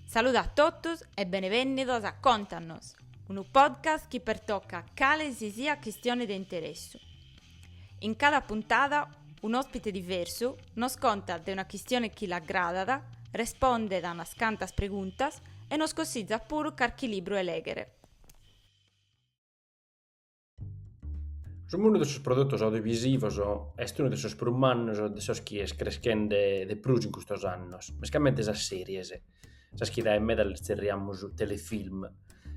Saluda a totus e benevènnidos a Contanos, unu podcast chi pertocat cale si siat cuistione de interessu. In cada puntada un'òspite diversu nos contat de una cuistione chi l'agradat, respondet a unas cantas preguntas e nos cossizat puru carchi libru 'e lèghere. Su mundu de sos produtos audiovisivos est unu de sos prus mannos de sos chi est creschende de prus in custos annos, mescamente sas series, sas chi dae meda las zerriamus telefilm,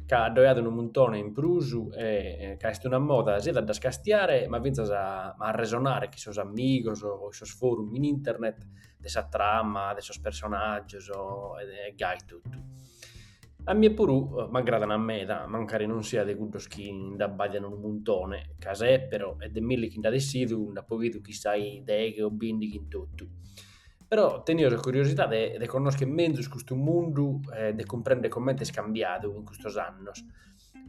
ca ddoe at unu muntone in prus e ca est una moda siat a ddas castiare ma fintzas a arresonare cun sos amigos o in sos forum in internet de sa trama, de sos personagios e gai totu. A mie puru m'agradan meda, mancari non sia de cuddos chi nde abbàdian unu muntone, ca sèpero e de milli chi nd'at essidu nd'apo bidu chissai deghe o bìndighi in totu. Però tenio sa curiosidade de connòschere menzus custu mundu e de cumprèndere comente est cambiadu in custos annos.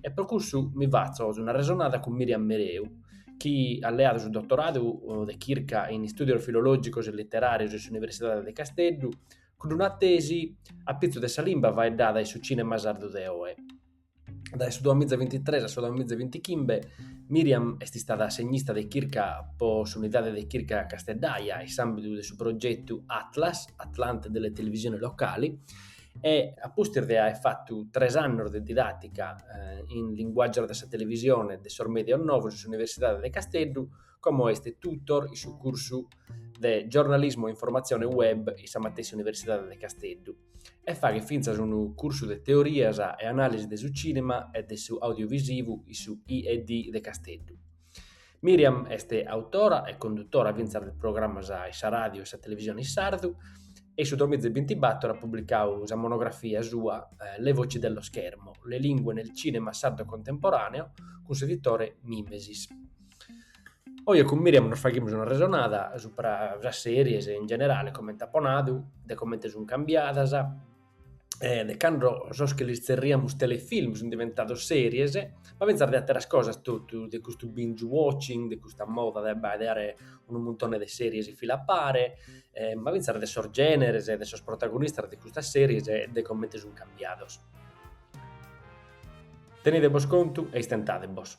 E pro cussu mi fatzo un'arresonada cun Miriam Mereu, chi at leadu su dotoradu de chirca in Istùdios filològicos e literàrios in s'Universidade de Casteddu, cun una tesi a pitzus de sa limba faeddada in su cìnema sardu de oe. Dae su duamiza bintitres a su duamiza bintichimbe Miriam est istada assegnista de chirca pro s'Unidade de Chirca casteddaja in s'àmbidu de su progetu Atlas, Atlante delle Televisioni Locali, e a pustis de aer fatu tres annos de didàtica in linguàgios de sa televisione e de sos mèdios novos in s'Universidade de Casteddu, como est tutor in su cursu de Giornalismo e Informazione Web in sa matessi Universidade de Casteddu e faghet fintzas unu cursu de Teorias e Anàlisi de su Cìnema e de su Audiovisivu in su IED de Casteddu. Miriam est autora e condutora fintzas de programas in sa ràdio e sa televisione in sardu e in su duamiza bintibator at publicadu sa monografia sua Le voci dello schermo, le lingue nel cinema sardo contemporaneo cun s'editore Mimesis. Oje cun Miriam nos faghimus un'arresonada subra sas series in generale, comente apo nadu, de comente sun cambiadas, e de cando sos chi lis zerriamus telefilm sun diventados series, ma fintzas de àteras cosas totu, de custu binge watching, de custa moda de abbaidare unu muntone de series in fila a pare, e ma fintzas de sos generes e de sos protagonistas de custas series e de comente sun cambiados. Tenidebos contu e istentadebos.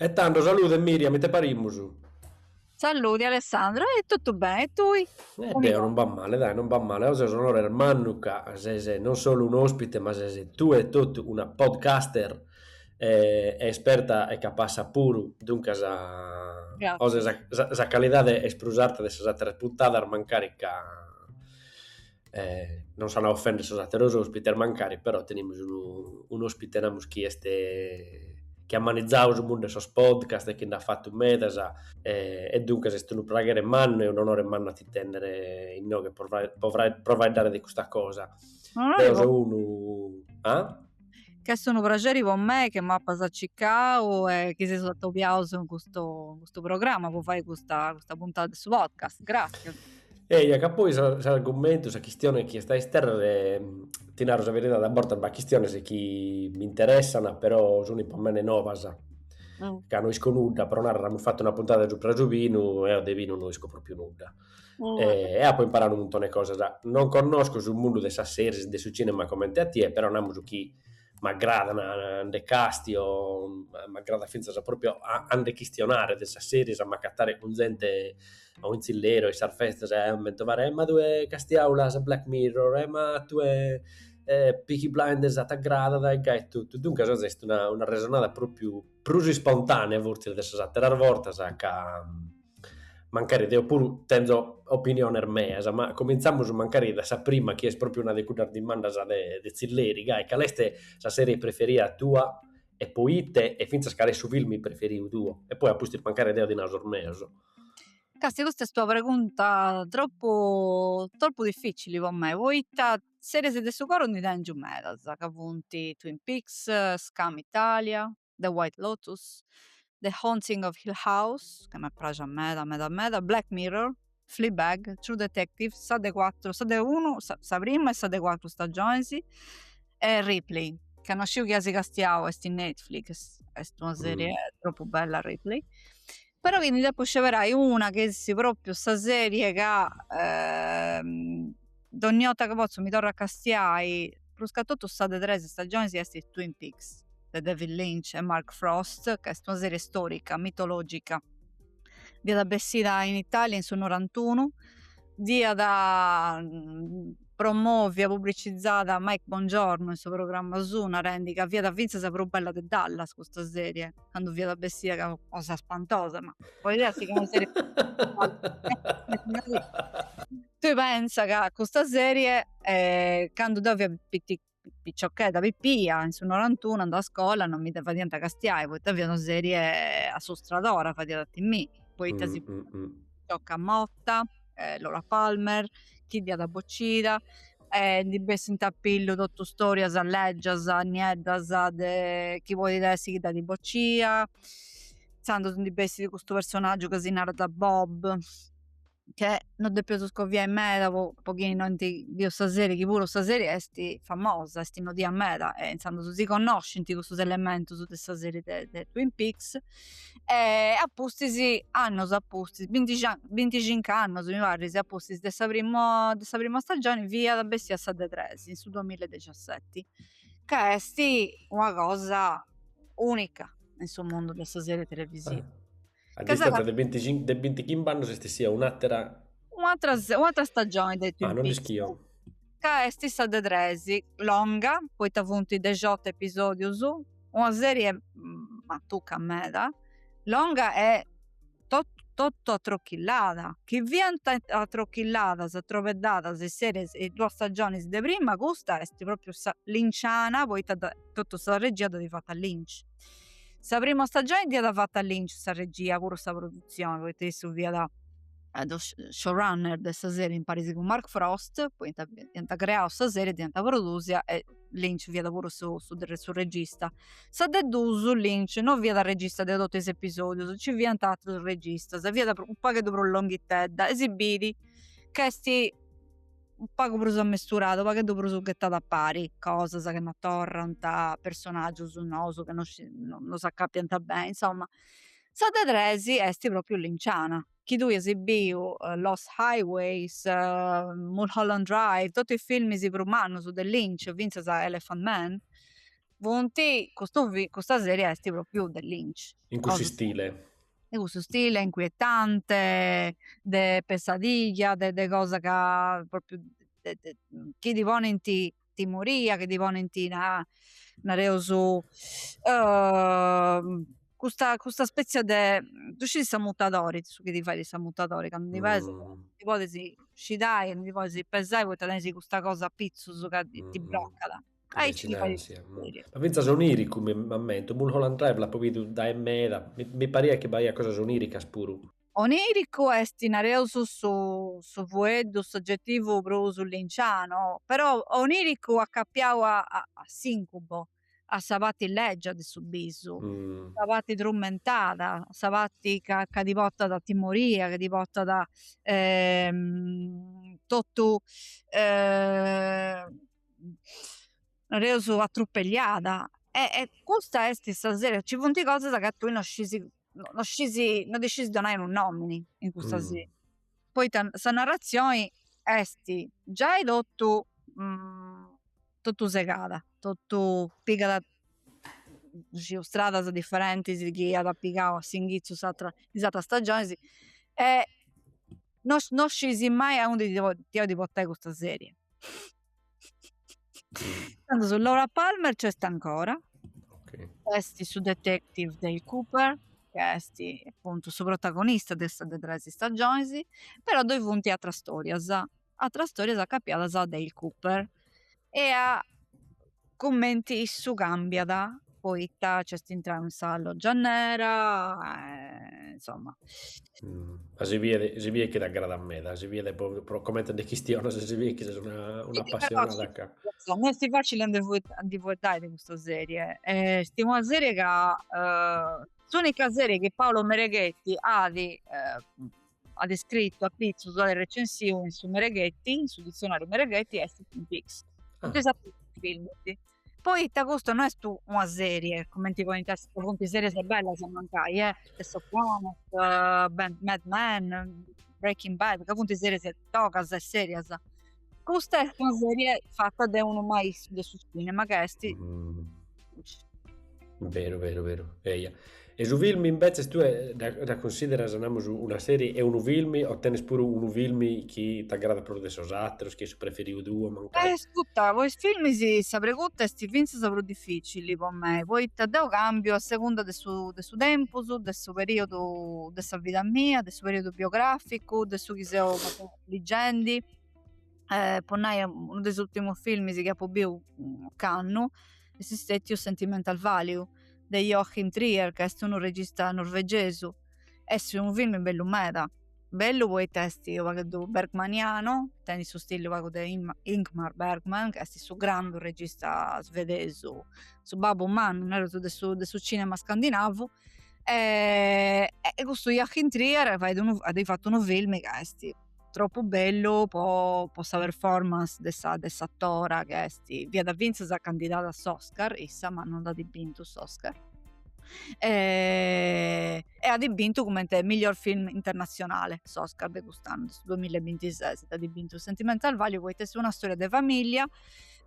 E tando, salude Miriam, ite parimus? Saludi Alessandro, e totu bene, e tui? E deo non b'at male, dai, non b'at male, oe ses un'onore mannu ca ses non solu un'ospite ma ses tue e totu una podcaster esperta e capassa puru, duncas oe sa calidade est prus arta de sas ateras puntadas mancari ca non s'ant a ofender sos atteros ospites mancari, però tenimus unu un'ospite namus chi est chi at manizadu su mundu 'e sos podcast e chi nd'at fatu medas e e duncas est unu praghere mannu e un'onore mannu a ti tennere inoghe pro faeddare de custa cosa. Deo so unu ah Ch'est unu praxeri po me chi m'apas circau e chi si seus atobiaus in custu in custu programma po fai custa custa puntada de su podcast. Gràtzias. Eia, ca poi sa s'argumentu, sa chistione chi est de istèrrere, ti naru sa beridadi, a bortas b'at chistiones chi m'interessant, però sunt po mene novas, ca no isco nudda, pro narrer, amus fatu una puntada supra su binu e eo de binu no isco pròpiu nudda e, e apo imparadu unu muntone 'e cosas. Non connosco su mundu de sas seris e de su cinema comente a tie, però namus chi m'agradan nde castio, m'agradat fintzas propriu a a nde chistionare de sas seris, a m'agatare cun zente o in tzilleri in sas festas e aer m'aint a fagher, e ma tue castiau l'as Black Mirror, e ma tue Peaky Blinders t'agradat e gai totu. Duncas oe est una una arresonada propriu prus ispontanea fortzis de sas ateras bortas ca mancari deo puru tenzo opiniones meas, ma comintzamus mancari dae sa prima chi est pròpriu una de cuddas dimandas de de tzilleri, gai, cale est sa serie preferida tua e po ite e fintzas cale est su filmi preferiu tuo? E poi a pustis mancari deo ti nau sos meus. Castia custa est una pregunta troppu troppu difficili po mei, poita series de su coro ndi tengiu medas, ca funt Twin Peaks, Skam Italia, The White Lotus, The Haunting of Hill House, ca m'est praxia meda meda meda, Black Mirror, Fleabag, True Detective, sa de cuatru, sa de unu, sa prima e sa de cuatru stagionis, e Ripley, ca no sciu chi dd'as castiau, est in Netflix, est una serie tropu bella Ripley. però chi ndi depu sceberai una chi esti propriu sa serie ca ehm, dogni 'orta chi potzu mi torru a castiai pruscatotu sa de tres stagionis chi esti Twin Peaks de David Lynch e Mark Frost ca est una serie storica mitologica fiat bessida in Italia in su norantunu dd'iat promovia publicizada Mike Bongiorno in su programma suu narendi ca fiat finzas prus bella de Dallas custa serie candu fiat bessida ca cosa spantosa, ma poi dea si conoseret tui pensa ca custa serie eh, candu deu fia pitti picciocchedda pippia in su norantunu andà a scola non mi dda fadiant castiai poita fiat una serie assustradora fadiat a timi poita sa picioca morta eh, Laura Palmer, chi dd'iat bocida, e ndi bessint a pillu totu storias leggias, nieddas de chi podit essi chi dd'at bocia, intzandus ndi bessit custu personaggiu ca si narat Bob, chi non depeus scoviai meda po po chi no ant biu sa serie, chi puru sa serie esti famosa, esti nodia meda e intzandus si connoscint custus elementus de sa serie de Twin Peaks. e a pustis annus a pustis binti binticincu annus mi parit a pustis de sa prima de sa prima stagioni fiat bessia sa de tres in su duamilla e dexiaseti ca esti una cosa unica in su mundu de sa serie televisiva a distanza de binticincu de bintichimb'annos est essia un'atera un'atera un'atera stagioni de Twin Peaks ah non l'ischio ca est sa de tres, longa poita funt dexiotu episodius, una serie matuca meda, longa e totu atrochillada, chi fiant atrochilladas atrobedadas is series is duas stagionis de prima, custa est propriu sa linciana poita totu sa regia dd'at fata Lynch, sa prima stagioni dd'iat fata Lynch sa regia puru sa produtzioni poita issu fiat eh, su showrunner de sa serie imparis cun Mark Frost, poita iant creau sa serie, dd'iant produsia e Lynch fiat puru su, su, su regista. Sa de dus, Lynch non fiat regista de totu is episodius, nci fiant atrus registas, fiat u pagheddu prus longhitedda e si biri ch'est u pagu prus ammesturada, u pagheddu prus ghetada a pari, cosas chi non torrant, personaggius nous chi non, non s'acapiant beni, insomma. Sa de tres est propriu Linciana, chi tui as biu Lost Highways, Mulholland Drive, totu is filmis prus mannus de Lynch, fintzas Elephant Man, funt, custu fi, custa serie est propriu de Lynch. In cussu stile. In cussu stile inquietante, de pesadilla, de cosa ca propriu chi ti ponint timoria chi ti ponint na nareus custa custa spetzia de ddu scis s'ammutadori su chi ti fait s'ammutadori candu ti paras ti podis scidai e non ti podis pesai poita tenis custa cosa apitzus ca ti brocat aici ma finzas oniricu m'ammento Mulholland Drive l'apo bidu dae meda mi pariat chi b'aiat cosas oniricas puru Oniricu est nareus su fueddu s'ogetivu prus lynchanu, però oniricu acapiau a s'incubo, a sa parti lègia de su bisu, sa parti trumentada, sa parti ca ca ti portat timoria, ca ti portat totu nareus atrupelliada e e custa est sa serie, ci funt cosas ca tui non scisi no scisi no ddi scisi donai unu nomini in custa serie poita sa narrazioni esti giai totu mm, totu segada totu pigat cussu stradas differentis chi at pigau a s'inghitzu in is atras stagionis e no scisi mai aundi ti depit portai custa serie Tando Laura Palmer nc'est ancora, nc'est su detective Dale Cooper, chi est apuntu su protagonista de is tres stagiones, però ddoi funt atras storias, atras storias acapiadas a Dale Cooper e a cumenti issu cambiat poita nc'est intrau in sa loggia nera e insomma si bidet chi t'agradat meda si bidet pro comente nde chistionas si bidet chi ses un'apassionada ca no est facile a ndi fueddai de custa serie est una serie ca s'unica serie chi Paolo Mereghetti at at iscritu a pitzus, at recensiu in su Mereghetti, in su ditzionariu Mereghetti est Twin Peaks, totu is aterus funt filmis. Poita custa no est una serie, cumenti podint essi, ca funt series bellas, mancai, eh, The Sopranos, Mad Men, Breaking Bad, ca funt series togas e serias, Custa est una serie fata de unu maistru de su cinema ca est... Mm. Veru, veru, veru. Eia. E su film invece tue dda consideras namus una serie e unu film o tenes puru unu film chi t'agrada prus de sos ateros, chi est su preferiu tuo mancai? Ascurta, po is films sa pregunta est finzas prus difficili po mei, poita deu cambiu a segunda de su de su tempus, de su periodu de sa vida mia, de su periodu biograficu, de su chi seu ligendi e po nai unu de is ultimus filmis chi apu biu ocannu esti stetiu Sentimental Value de Joachim Trier ca esti unu regista norvegesu esti unu filmi bellu meda bellu poita esti unu pagheddu bergmanianu tenit su stili unu pagu de Ingmar Bergman ca esti su grandu regista svedesu su babbu mannu nareus de su cinema scandinavu e, e custu Joachim Trier unu, at fatu unu film ca esti troppu bellu po, po sa performance de sa, de s'atora ca esti, fiat finzas candidada a s'Oscar issa ma non dd'at bintu s'Oscar e at bintu cumenti miglior film internazionale s'Oscar de cust'annu de su duamilla e bintises dd'at bintu Sentimental Value poita esti una storia de familia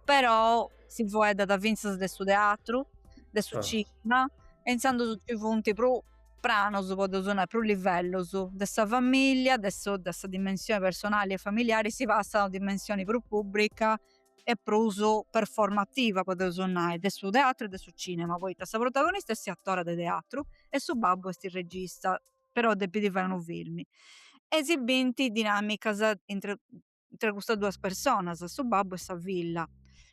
però si fueddat fintzas de su teatru, de su cinema e intzandus ci funt prus pranus podeus nai, prus livellus, de sa familia, de su de sa dimensioni personali e familiari si passat a una dimensioni prus pubbrica e prus performativa podeus nai, de su teatru e de su cinema, poita sa protagonista est s'atora de teatru e su babbu esti regista, però depit fai unu filmi e si binti dinamicas intra intre custas duas personas, su babbu e sa filla,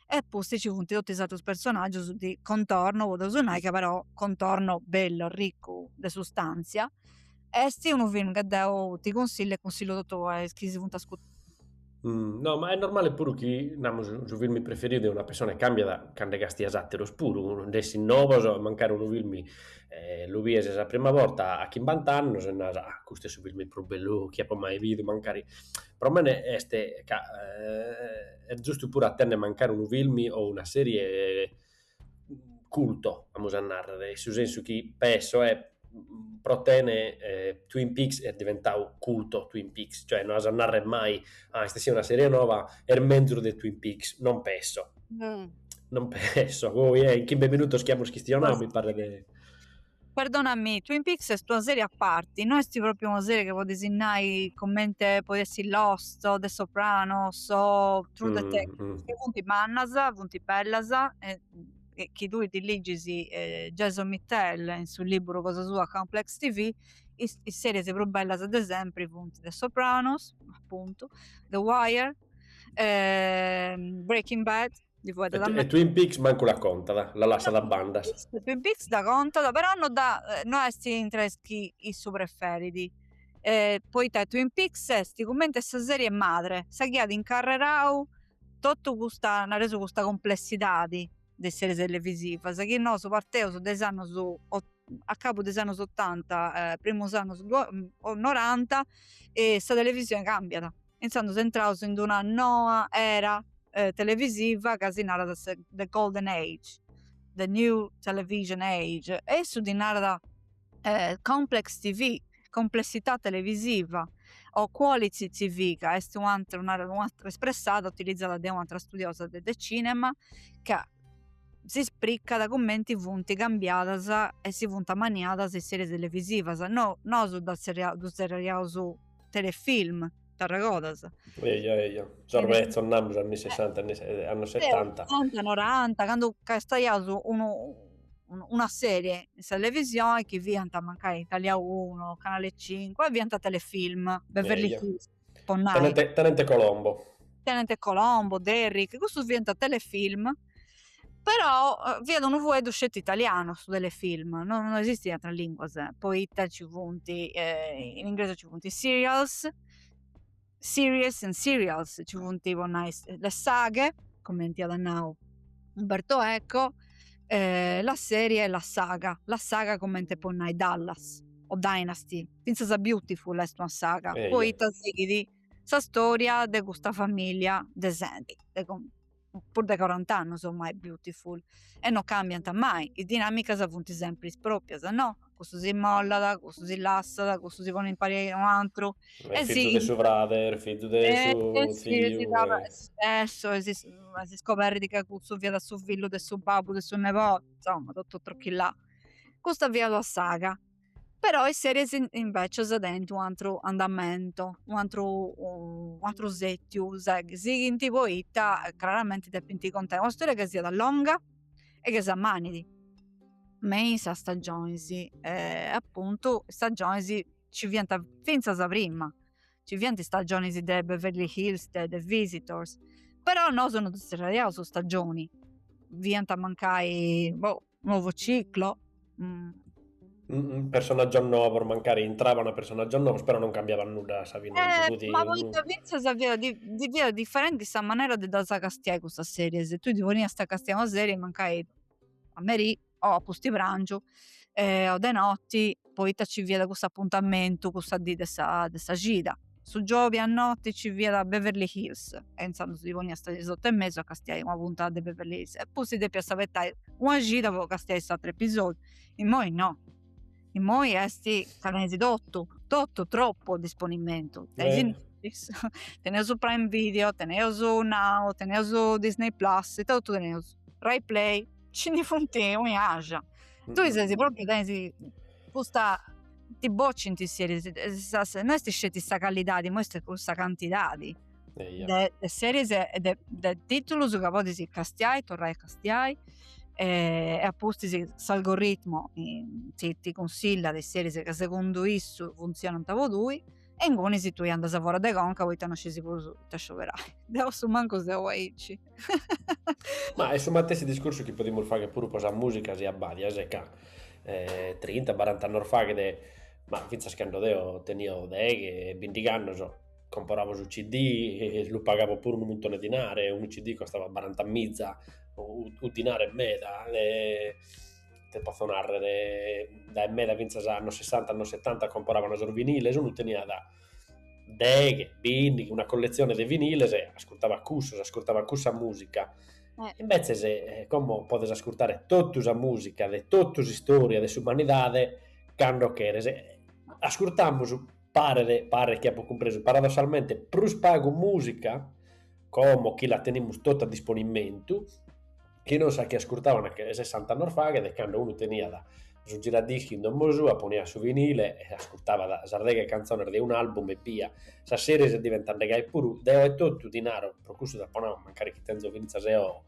e pustis nci funt totus is atrus personaggius de contorno, podeus nai ca però contorno bellu, arriccu de sustàntzia. Esti unu film ca deu ti consillu e consillu a totu is chi si funt ascurtendi. No, ma est normali puru chi, namus, su film preferiu de una persona càmbiat candu castias ateros puru, ndi essit novos, mancari unu film lu bies sa prima borta a chimbant'annus e naras, ah, custu est su film prus bellu chi apu mai bidu, mancari Pro mene est ca est giustu puru a tenner mancari unu filmi o una serie culto, amus a nàrrere, in su sensu chi pesso e pro tene Twin Peaks est diventau culto Twin Peaks, cioè no as a nàrrere mai, ah est essida una serie nova, est menzus de Twin Peaks, non pesso, non pesso, poi est in chimbe minutos chi amus chistionau mi paret de Perdonami, Twin Peaks est una serie a parti, no est propriu una serie chi podis nai commente podit essi Lost o The Sopranos o True Detective, chi funt mannas, funt bellas e chi tui ti ligis eh, Jason Mittell in su liburu cosa sua Complex TV, is, is series prus bellas de sempri funt The Sopranos, appuntu, The Wire, eh, Breaking Bad, Li fuet e, e Twin Peaks mancu la contat, la lassat a banda. Twin Peaks dda contat, però no, da, eh, no est intre is chi issu preferit. Eh, poita Twin Peaks est cumenti sa serie madre, sa chi at incarrerau totu custa, at resu, custa complessidadi de is series televisivas chi nosu parteus de is annus a cabu de is annus otanta, eh, primus annus, noranta e sa televisioni cambiat. Intzandus entraus in d'una noa era televisiva ca si narat The Golden Age, The New Television Age, e issu ddi narat Complex TV, Complessità Televisiva, o Quality TV, ca est u atra, narat u atra, espressada utilizada de u atra studiosa de de cinema, ca si spricat cumenti funti cambiadas e si funt ammaniadas is series televisivas. No, nosu dda zerriaus, ddu zerriaus telefilm, t'arregodas? Eja, eja, sos betzos namus anni sessanta, anni annos setanta. Otanta, noranta, candu castiaiaus una serie in sa televisione chi fiant mancai in Italia uno, Canale cinque e fiant telefilm, Beverly Hills, po nai. Tenente Colombo. Tenente Colombo, Derrick, cussus fiant telefilm però eh, fiat unu fueddu sceti italianu su telefilm non, non esistit in atras linguas poita ci funt eh, in ingresu ci funt series series and serials ci funt po nai le saghe comenti at nau Umberto Eco eh, la serie e la saga la saga comente po nai Dallas o Dynasty finzas Beautiful est una saga eh, poita sighit sa storia de custa familia de genti de prus de corant'annus ommai Beautiful e no cambiant mai is dinamicas funt sempri is proprias no cussu si mollat cussu si lassat cussu si ponit in pari a u'antru e su fizu de su frader fizu de su ziu eja e si scoberrit ca cussu fiat su fillu de su babbu de su nebodit insomma totu trochillà custa fiat una saga però is series invecias tenint u antru andamentu u antru u antru settiu sighint poita craramenti depint contai ua storia ca siat longa e ca s'ammanidi me is stagionis appuntu is stagionis ci fiant finzas prima ci fiant is stagionis de Beverly Hills de The Visitors però nosu non ddu zerraiaus su stagioni fiant mancai boh Nuovo ciclo. Mm. personaggios novos, mancari intrabano personaggios novos, però non cambiaban nudda a sa fine. Eh, cussu, ma poita unu... fintzas fiat, di, di fiat differenti sa manera de ddas castiai custas series. Tui ti poniast a castiai una serie, mancai a meri o a pusti prangiu eh, o de notti poita ci fiat cussu apuntamentu cussa dì de sa de sa cida su giobi a noti ci fiat Beverly Hills e inzandus ti ponias a is otu e mesu a castiai una puntada de Beverly Hills e poi depias abetai una cida po castiai s'aturu episodiu immoi no immoi esti ca teneus totu totu tropu a disponimentu teneus prime video teneus now teneus Disney plus ita totu teneus Rai play ci ndi funt onni axia. E tui ses propriu tenis custa ti bocint seris no est sceti sa callidadi ma est cussa cantidadi de seris e de titulus ca podis castiai e torrai a castiai e a pustis s'algoritmu ti cunsillat is seris ca segundu issu funtzionant po tui. e inguni si tui andas fora de conca poita non scisi prus ita scioberai deu su mancu seu aici ma est su matessi discursu chi podimus fagher puru po sa musica si abbadias ca trinta barant'annos faghet ma finzas cando deo tenio deghe bindig'annos comporavo su CD e lu pagavo puru unu muntone dinare unu CD costava barantamiza unu dinare e meda ite potzo narrer, dae meda fintzas annos sessanta annos setanta comporavan sos viniles, unu teniat deghe bindighi una colletzione de viniles e ascurtavat cussos, ascurtavat cussa musica, imbezzes como podes ascurtare totu sa musica de totu s'istoria de s'umanidade cando cheres, ascurtamus paret chi apo cumpresu paradossalmente prus pagu musica como chi la tenimus tota a disponimentu chi non sa chi ascurtavan che sessant'annos faghet cando unu teniat su giradischi in domo sua, poniat su vinile e ascurtabat sas deghe cantzones de un'album ebbia, sas series diventende gai puru deo etotu ti naro, pro custu t'apo nau, mancari chi tenzo fintzas eo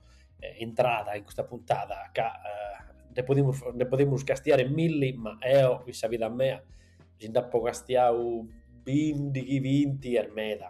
intrada in custa puntada, ca nde podimus nde podimus castiare milli ma eo in sa vida mea si nd'apo castiadu bindighi binti est meda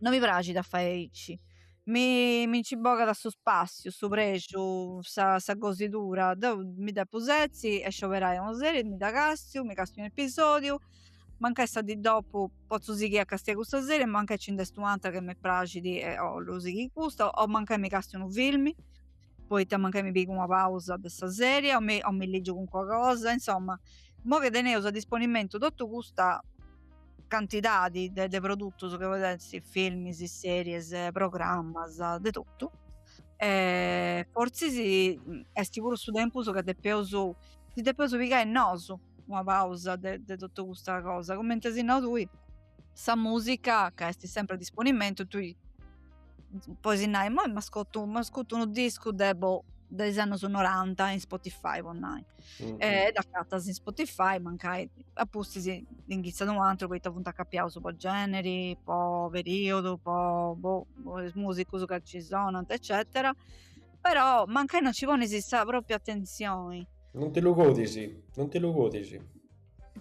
no mi praxit a fae aici mi mi nci bogat su spassiu su prexu sa sa gosidura deu mi dda potzu setzi e scioberai una seri mi da castiu mi castiu un'episodiu mancai sa di dopu potzu sighì a castiai custa seri e mancai ci nd'est un'atra chi mi praxit e bollu sighì custa o mancai mi castiu unu filmi poita mancai mi pigu una pausa de sa serie o mi, o mi ligiu cancua cosa, insomma, mo che teneus a disponimentu totu custa cantidadi de, de produtus che podit essi filmis, series, programmas, de totu, e fortzis esti puru su tempus ca si depeus pigai nosu una pausa de, de totu custa cosa, cumenti as nau tui sa musica ca est sempre a disponimentu tui podis nai moi m'ascurtu m'ascurtu unu discu de bo de is annos 90 in Spotify po nai mm-hmm. e dd'acatas in Spotify mancai a pustis inghitzat un'atru poita funt acapiaus po generi po periodu po bo is musicus ca ci sonant eccetera però mancai non ci ponis sa propria attenzioni non ti lu godis non ti lu godis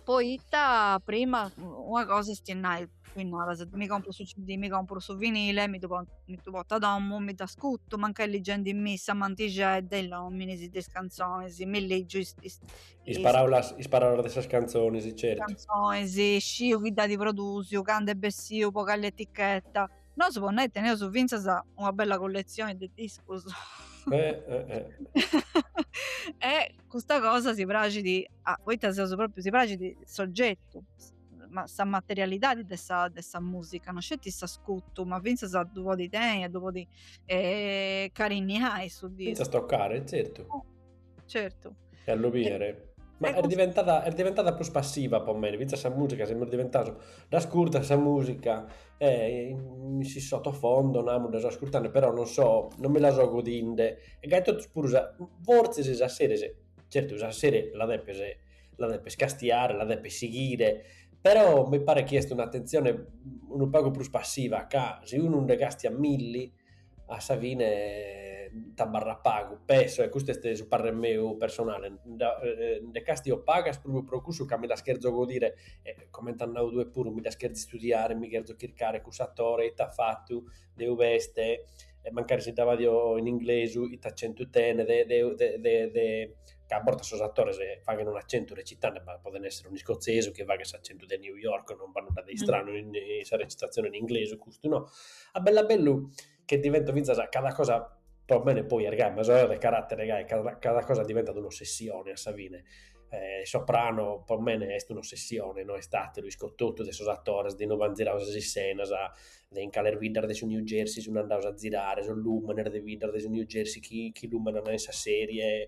poita prima una cosa est nai tui naras mi compro su CD mi compro su vinile mi ddu pongo mi ddu porto a domu mi dd'ascutu mancai ligendimì sa mantixedda is lominis de is cantzonis mi legiu is is is paraulas is paraulas de sas cantzonis certu is cantzonis sciu chi dd'at produsiu candu est bessiu po cali etichetta nosu po nai teneus finzas una bella colletzioni de discus e custa cosa si praxit a poita seus propriu si praxit s'ogetu ma sa materialidadi de sa de sa musica no sceti s'ascutu ma finzas a ddu podi tenni a ddu podi carinniai su discu finzas toccare zertu certu e a lu bìere ma est diventada est diventada prus passiva po mei finzas sa musica semus diventaus dd'ascurtas sa musica e in si sotofondo namus dda so ascurtende però non so non mi la so godinde e gai totus puru sa fortzis sas sèries, zertu sa sèrie la depes la depes castiare, la depes sighire, però mi paret chi est un'attentzione unu pagu prus passiva ca si unu nde castiat milli a sa fine t'abarrat pagu, penso, e custu est su parrer meu personale, nde castio pagas propriu pro cussu ca mi ddas cherzo godire e comente at nadu tue puru, mi ddas cherzo istudiare, mi cherzo chircare cussu atore, ite at fatu, de ube est e mancari si dda badio in inglesu ite accentu tenet de de de ca a bortas sos atores faghen un'acentu recitende, ma poden esser unu iscotzesu chi faghet s'acentu de New York, non b'at nudda de istranu in sa recitazione in inglesu, custu no, a bellu a bellu che divento finzas cada cosa pro mene poi est gai ma so de caratere gai ca cada cosa diventat un'ossessione a sa fine, Soprano pro mene est un'ossessione no est ateru, isco totu de sos atores de inube an ziradu sas iscenas de in cales biddas de su New Jersey sun andados a zirare sos lùmenes de biddas de su New Jersey chi chi lùmenan in sa sèrie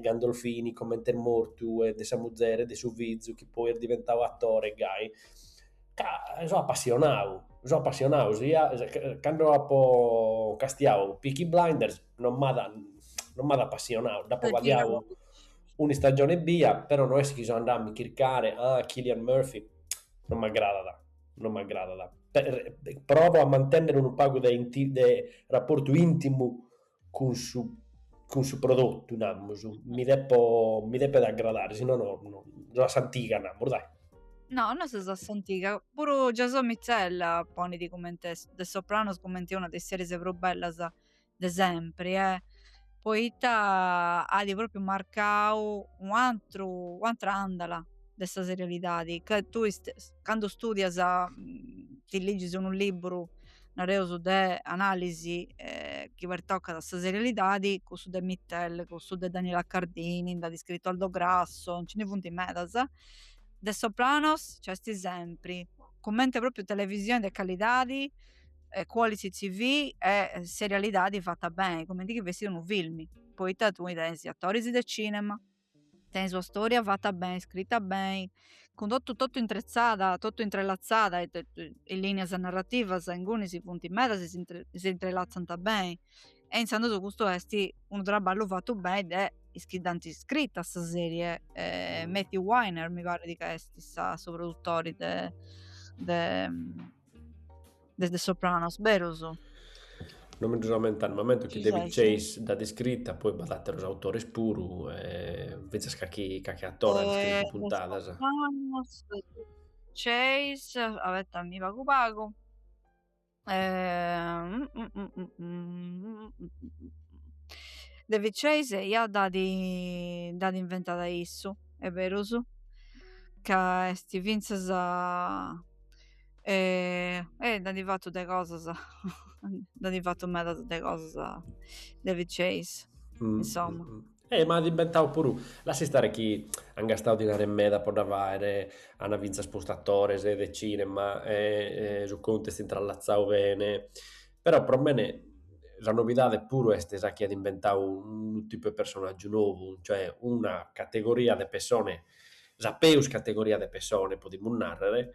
Gandolfini comente est mortu e de sa muzere e de su fizu chi poi est diventadu atore gai ca so apassionadu so apassionadu sia cando apo castiadu Peaky Blinders non m'at non m'at apassionadu nd'apo badiadu un'istagione ebbia però no est chi so andadu a mi chircare ah Cillian Murphy non m'agradat non m'agradat, provo a mantènnere unu pagu de de raportu intimu cun su cun su prodotu, namus, mi depo mi depet agradare, si no no no, unu a s'antiga namus dai. No, no ses a s'antiga, puru Jason Mittell ponit cumenti est The Sopranos cumenti una de is series prus bellas de sempri e poita at propriu marcau u atru u atra andala de sa serialidadi ca tui candu studias ti ligis unu liburu nareus de analisi chi pertocat a sa serialidadi cussu de Mittell cussu de Daniela Cardini nd'at scritu Aldo Grasso nci ndi funt medas The Sopranos nc'est sempri cumenti propriu televisioni de calidadi e quality TV e serialidadi fata beni, cumenti chi fessit unu filmi, poita tui tenis is atoris de cinema, tenis una storia fata beni, scrita beni, cun totu totu intretzada, totu intrelatzada e linias narrativas inguni si funti medas e si intrelatzant beni e intzandus custu esti unu traballu fatu beni de is chi dd'ant scrita sa serie Matthew Weiner mi parit ca esti sa su produtori de de The Sopranos berus. No mi dd'ammento, ma m'ammento chi David Chase dd'at iscrita, poi b'at àteros autores puru, e fintzas carchi carchi atore at iscritu puntadas. The Sopranos, David Chase, abetamì pagu pagu, David Chase eia dd'at dd'at inventada issu, est berus, ca est fintzas E, e nd'at fatu de cosas, nd'at fatu medas de cosas David Chase, mm, insomma. Mm, mm. Eh, ma at imbentau puru. Lassa istare chi han gastau dinare meda po dda faere, ana finzas postu attores de cinema e, e su contu est intrallazzau bene. Però pro mene sa novidade puru est sa chi at imbentau unu tipu de personaggiu nou, cioè una categoria de pessone Sa peus categoria de pessone, podimus nàrrere,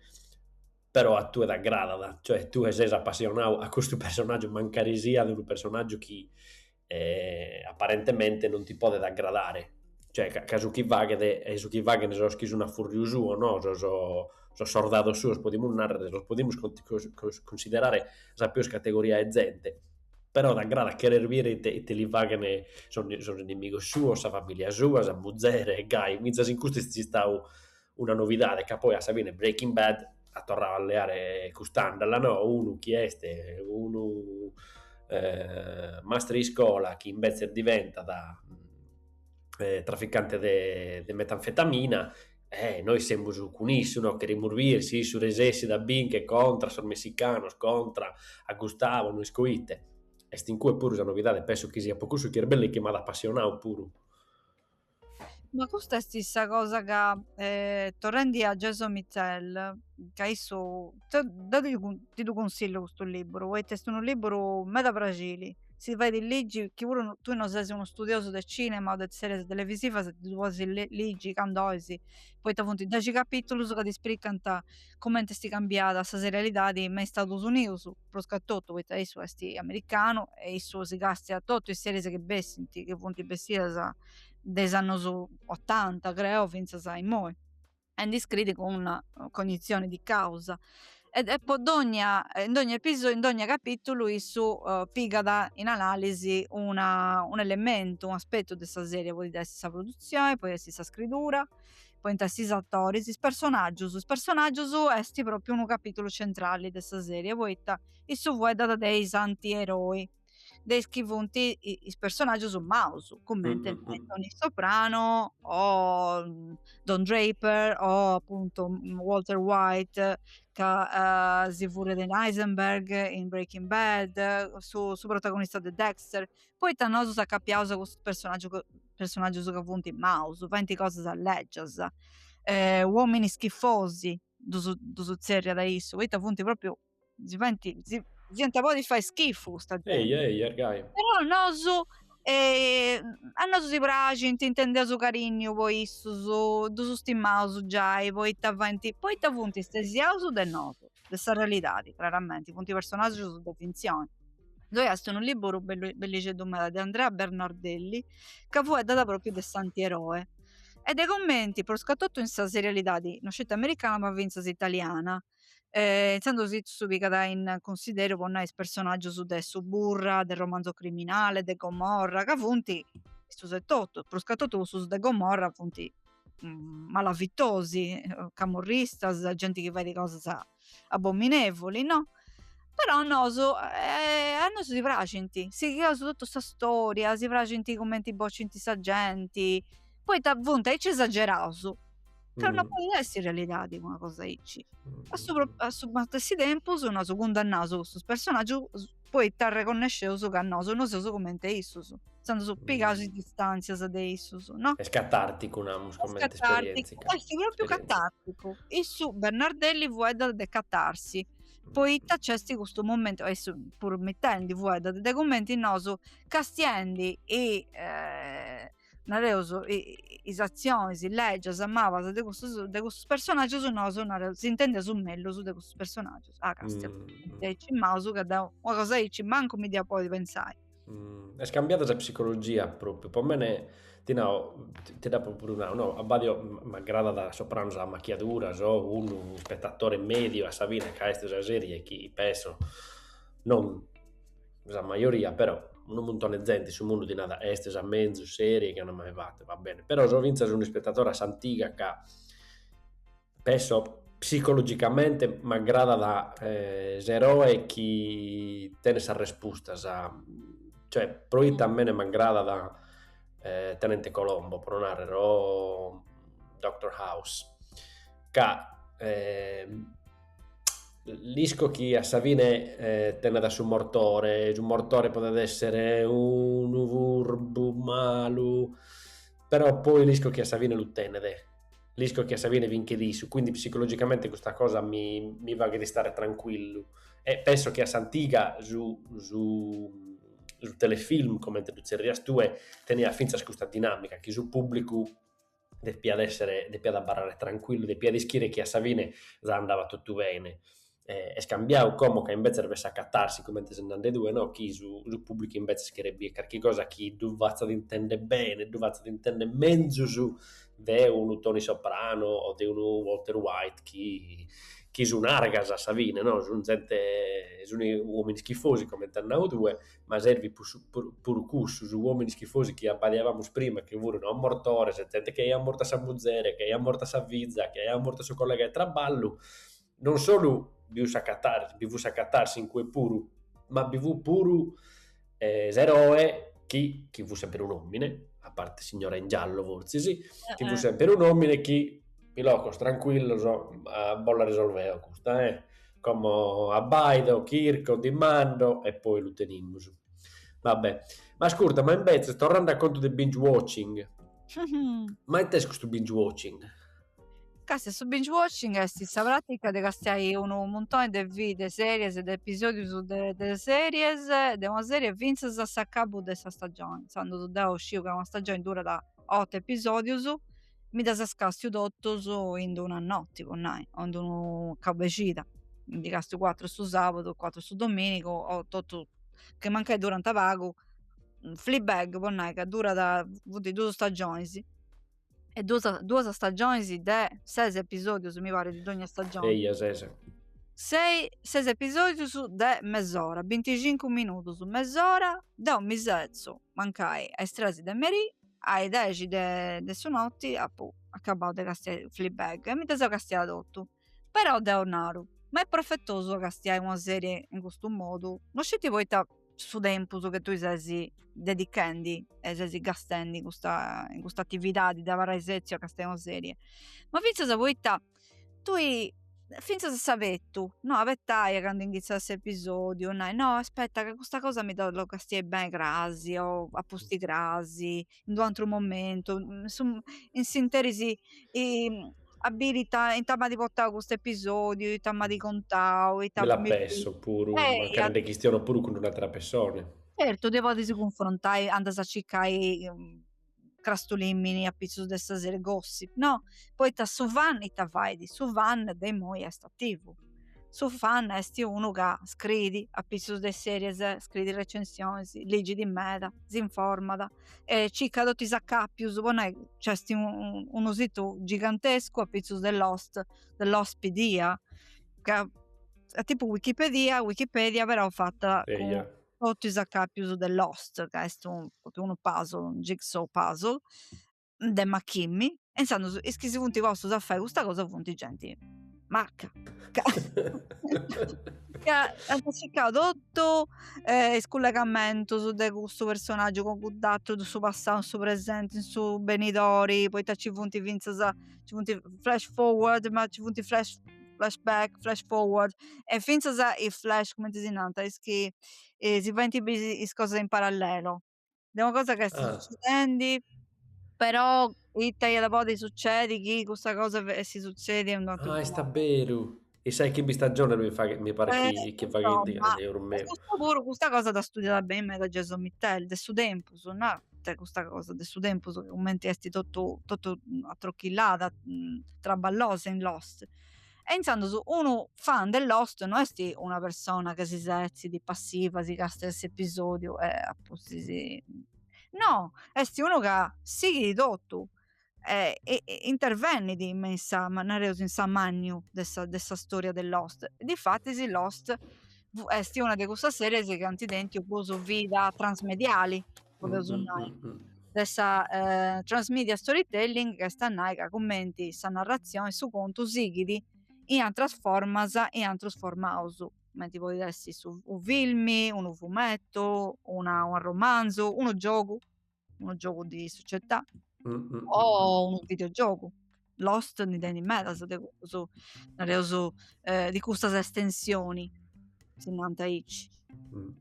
però a tue t'agradat, cioè tue ses apassionau a custu personàgiu mancari siat unu personàgiu chi aparentemente non ti podet agradare, cioè ca ca su chi faghet e su chi faghent sos chi sun a fùrriu suo no, sos sos sordados suos podimus nàrrere, los podimus cunsiderare sa peus categoria 'e zente Però t'agradat cheres bìere ite ite li faghent sos inimigos suos, sa familia sua, sa muzere e gai, fintzas in custu est istadu una novidade ca poi a sa fine Breaking Bad at torradu a leare cust'andala no, unu chi est unu mastre 'e iscola chi imbetzes diventat traficante de metanfetamina E nois semus cun issu, no cherimus bier si issu resessit a binchere contra sos messicanos, contra a Gustavo, no isco ite. Est in cue puru sa novidade, penso chi siat po cussu chi est bellu e chi m'at apassionadu puru. Ma custa est sa cosa ca torrendi a Jason Mittell, ca issu, deu ti ddu consillo custu liburu poita est unu liburu meda praxili Si fait ligi chi puru tui no ses unu studiosu de cinema o de series televisivas ddu podis ligi candu ois poita funt dexi capitulus ca ti spricant cumenti est cambiada sa serialidadi me is Stadus Unius pruscatotu poita issu est americanu e issu si castiat totu is series chi bessint chi funt bessidas de is annus otanta creo finzas a immoi. e ndi scriit cun una cognitzioni di causa e e po dogna in dogna episo in dogna capitulu issu pigat in analisi una un'elementu un'aspettu de sa seria podit essi sa produzioni podit essi sa scriidura podint essi is attoris is personaggius is personaggius esti propriu unu capitulu centrali de sa seria poita issu fueddat de is antieroi de is chi funt is personaggius maus cumenti Tony Soprano o Don Draper o apuntu Walter White ca si furriat in Heisenberg in Breaking Bad su su protagonista de Dexter poita nosu s'acapiaus a custus personaggiu personaggius ca funt maus faint cosas lègias uomini schifosi ddus ddus zerriat issu poita funt propriu si faint si, si iant podi fai schifu custa gente eia eia arguai però a nosu e a nosu si praxint intendeus carinniu po issus ddus stimaus giai poita faint poita funt istesiaus de nosu de sa realidadi craramenti funt personaggius de fintzioni ddoi est unu liburu bellu bellixeddu meda de Andrea Bernardelli ca fueddat propriu de s'antieroe e de cumenti prus ca totu in sa serialidadi no sceti americana ma finzas italiana e intzandus issu pigat in cunsideru po nai is personaggius de Suburra, de Romanzo Criminale, de Gomorra, ca funt, custus etotu, pruscatotu cussus de Gomorra funt malavitosi, camorristas, genti chi fait cosas abominevoli no, però a nosu a nosu si praxint, sighiaus totu sa storia, si praxint cumenti bocint sa genti, poita funt aici esageraus Ca mm. non podit essi in realidadi una cosa aici. Mm. A su, a su matessi tempus, nosu cundannaus custus personaggius poita arreconnesceus ca nosu non seus cumenti issus. Sandus mm. pigaus is distanzias de issus, no? Est catarticu, namus, comente esperienzia. Est propriu catarticu. Issu, Bernardelli, fueddat de catarsi poita nc'est custu momentu, e su, puru Mittell ndi fueddat, de cumenti nosu castiendi e... Eh, nareus is atzionis, is lègias mabas de custus de custus personaggius nosu nareus s'intendeus mellus de custus personaggius ah Castia mm. de aici maus ca deu una cosa aici mancu mi ddia podi pensai mm. est cambiada sa psicologia propriu po mene ti nau ti dd'apu puru nau no abbadio m'agradat Sopranos a macchiadura so unu spetatore mediu a sa fine ca est sa serie chi penso non sa majoria, però, unu muntone 'e zente in su mundu ti nat, est sa menzus seria chi an mai fatu, va bene, però so fintzas un'ispetadore a s'antiga ca pesso psicologicamente m'agradat s'eroe chi tenet sas respustas, cioè proite a mene m'agradat Tenente Colombo, pro narrer, o Doctor House ca l'isco chi a sa fine eh, tenet a su mortore, su mortore podet essere unu furbu, malu, però poi l'isco chi a sa fine lu tenet, l'isco chi a sa fine vinchet issu, quindi psicologicamente custa cosa mi, mi faghet istare tranquillu e penso chi a s'antiga su, su, su telefilm, comente ddu zerrias tue, teniat fintzas custa dinamica, chi su pubblicu depiat èssere, depiat abarrare trancuillu, depiat ischire chi a sa fine andavat totu bene. Est cambiadu como ca imbetzes b'est sa catarsi, comente si nde andat cue, no chi su su pùblicu imbetzes cheret biri carchi cosa chi ddu fatzat intender bene, ddu fatzat intender menzus de unu Toni Soprano o de unu Walter White chi chi sun argas a sa fine no, sun zente, sun uomini schifosi comente as nau tue ma servit puru cussu, sos uomini schifosi chi abbadiavamus prima chi furunu mortores, zente chi aiat mortu a sa muzere, chi aiat mortu a sa fiza, chi aiat mortu a su collega 'e traballu, non solu bi fut sa catarsi, bi fut sa catarsi in cue puru, ma bi fut puru s'eroe chi, chi fut sempre un omine, a parte signora in giallo fortzis, chi fut sempre un omine chi, pilocos, trancuillos, bos la risolvo eo custa, eh! Como abbaido, chirco, dimando e poi lu tenimus. Va be'. Ma ascurta, ma imbetzes, torrende a contu de binge watching, ma ite est custu binge watching? Càstia, su binge watching est sa pràtica de castiai unu muntoni de vide series, de episòdius de de series, de una serie fintzas a s'acabu de sa stagioni, intzandus deu sciu ca una stagioni durat otu episòdius mi ddus castiu totus in d-una noti po nai o in d-unu cabexida mi ndi castiu cuatru su sabadu cuatru su dominigu o otu chi mancai duranta pagu Fleabag po nai ca durat funt dus stagionis e duas duas stagionis de ses episodius mi parit de dogna stagioni sei ses sei ses episodius de mes'ora binticincu minudus mes'ora deu mi setzu mancai a is tres de merì A is dexi de su notti apu acabau de castiai Fleabag e mi dda seu castiada totu. Però deu naru, ma est profetosu a castiai una serie in custu modu, no sceti poita su tempus che tui ses dedichendi e ses gastendi in custa in custa attividadi de abarrai setziu a castiai una serie, ma finzas poita tui finzas a sa petu no abetàst candu inghitzat s'episodiu nai no aspetta ca custa cosa mi da ollu castiai beni cras o a pustis cras in d'u antru momentu in s'interis a biri ita ita m'at portau custu episodiu ita m'at contau ita mi la pensu puru mancari nde chistiono puru cun d'un'atera pessona certu dd'e podis cunfrontai andas a circai crastulìmini a pizzus de sa sèrie gossip no poita su fan ita fait su fan de immoi est attivu su fan est unu ca scriit a pizzus de series scriit recensiones ligit meda s'informat e circat totu is acapius po nai nc'est unu situ gigantescu a pizzus de lost de Lostpedia ca est tipu wikipedia wikipedia però fata cun totu is acàpius de Lost, ca est unu puzzle, unu jigsaw puzzle de machìmini, e intzandus is chi si funt postus a fai custa cosa funt genti maca, ca ca ant circau totu is cullegamentus de custu personaggiu cun cudd'aturu, de su passau, in su presenti, in su benidori, poita nci funt fintzas ci funt is flash forward ma ci funt is flashback flash forward e fintzas is flash cumenti si nant est chi si faint biri is cosas in parallelo de una cosa chi est ah. succedendi però ita iat a podi succedi chi custa cosa essi succedi e unu ateru ah est abberu In sas chimbe istagiones mi paret chi eh, chi faghent insomma, gasi eus e meus. custa puru, custa cosa dd'at studiada beni meda Jason Mittell, de su tempus, no? E custa cosa de su tempus ca cumenti est totu totu atrochillada, traballosa in Lost. E intzandus unu fan de Lost no est una persona ca si setzit passiva, si càstiat s'episodiu e a pustis, no, est unu ca sighit totu eh, e, e intervenit in sa, nareus, in s'amànniu de sa, de sa storia de Lost. Difatis Lost est una de cussas series chi ant tentu prus vida transmediali, podeus mm-hmm. nai, mm, mm. de sa eh, transmedia storytelling, chi est a nai ca cumenti sa narratzioni, su contu sighit in atras formas, in àterus formaus, cumenti podit essi su, u filmi, unu fumetu, una, un romanzu, unu giogu, unu giogu di società mm, mm, mm o mm. unu videogiogu. Lost ndi tenit medas de cusu, nareus, eh, di custas estensioni, si nant aici. Mm.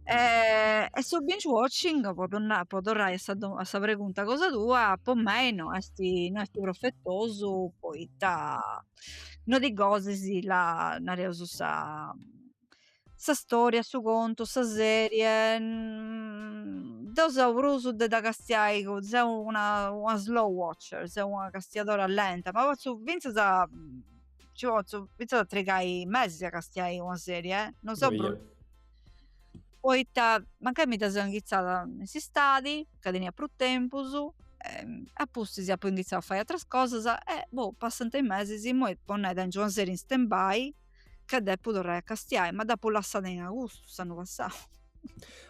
E, eh, e su binge watching, po torrai a sa, a sa pregunta cosa tua, po mei no est, no est profetosu, poita no ti gosas sa, nareus, sa sa storia, su contu, sa serie, deu seu prus de dda castiai, seu una una slow watcher, seu una castiadora lenta, ma potzu finzas ci potzu finzas a trigai mesis a castiai una serie eh, non sciu prus, poita mancai mi dda seu inghitzada in s'istadi ca tenia prus tempus e apustis apu inghitzau a fai ateras cosas e boh passant is mesis, immoi po nai tengu una serie in stand by ca depu torrai a castiai, ma dd'apu lassada in agustu, s'annu passau.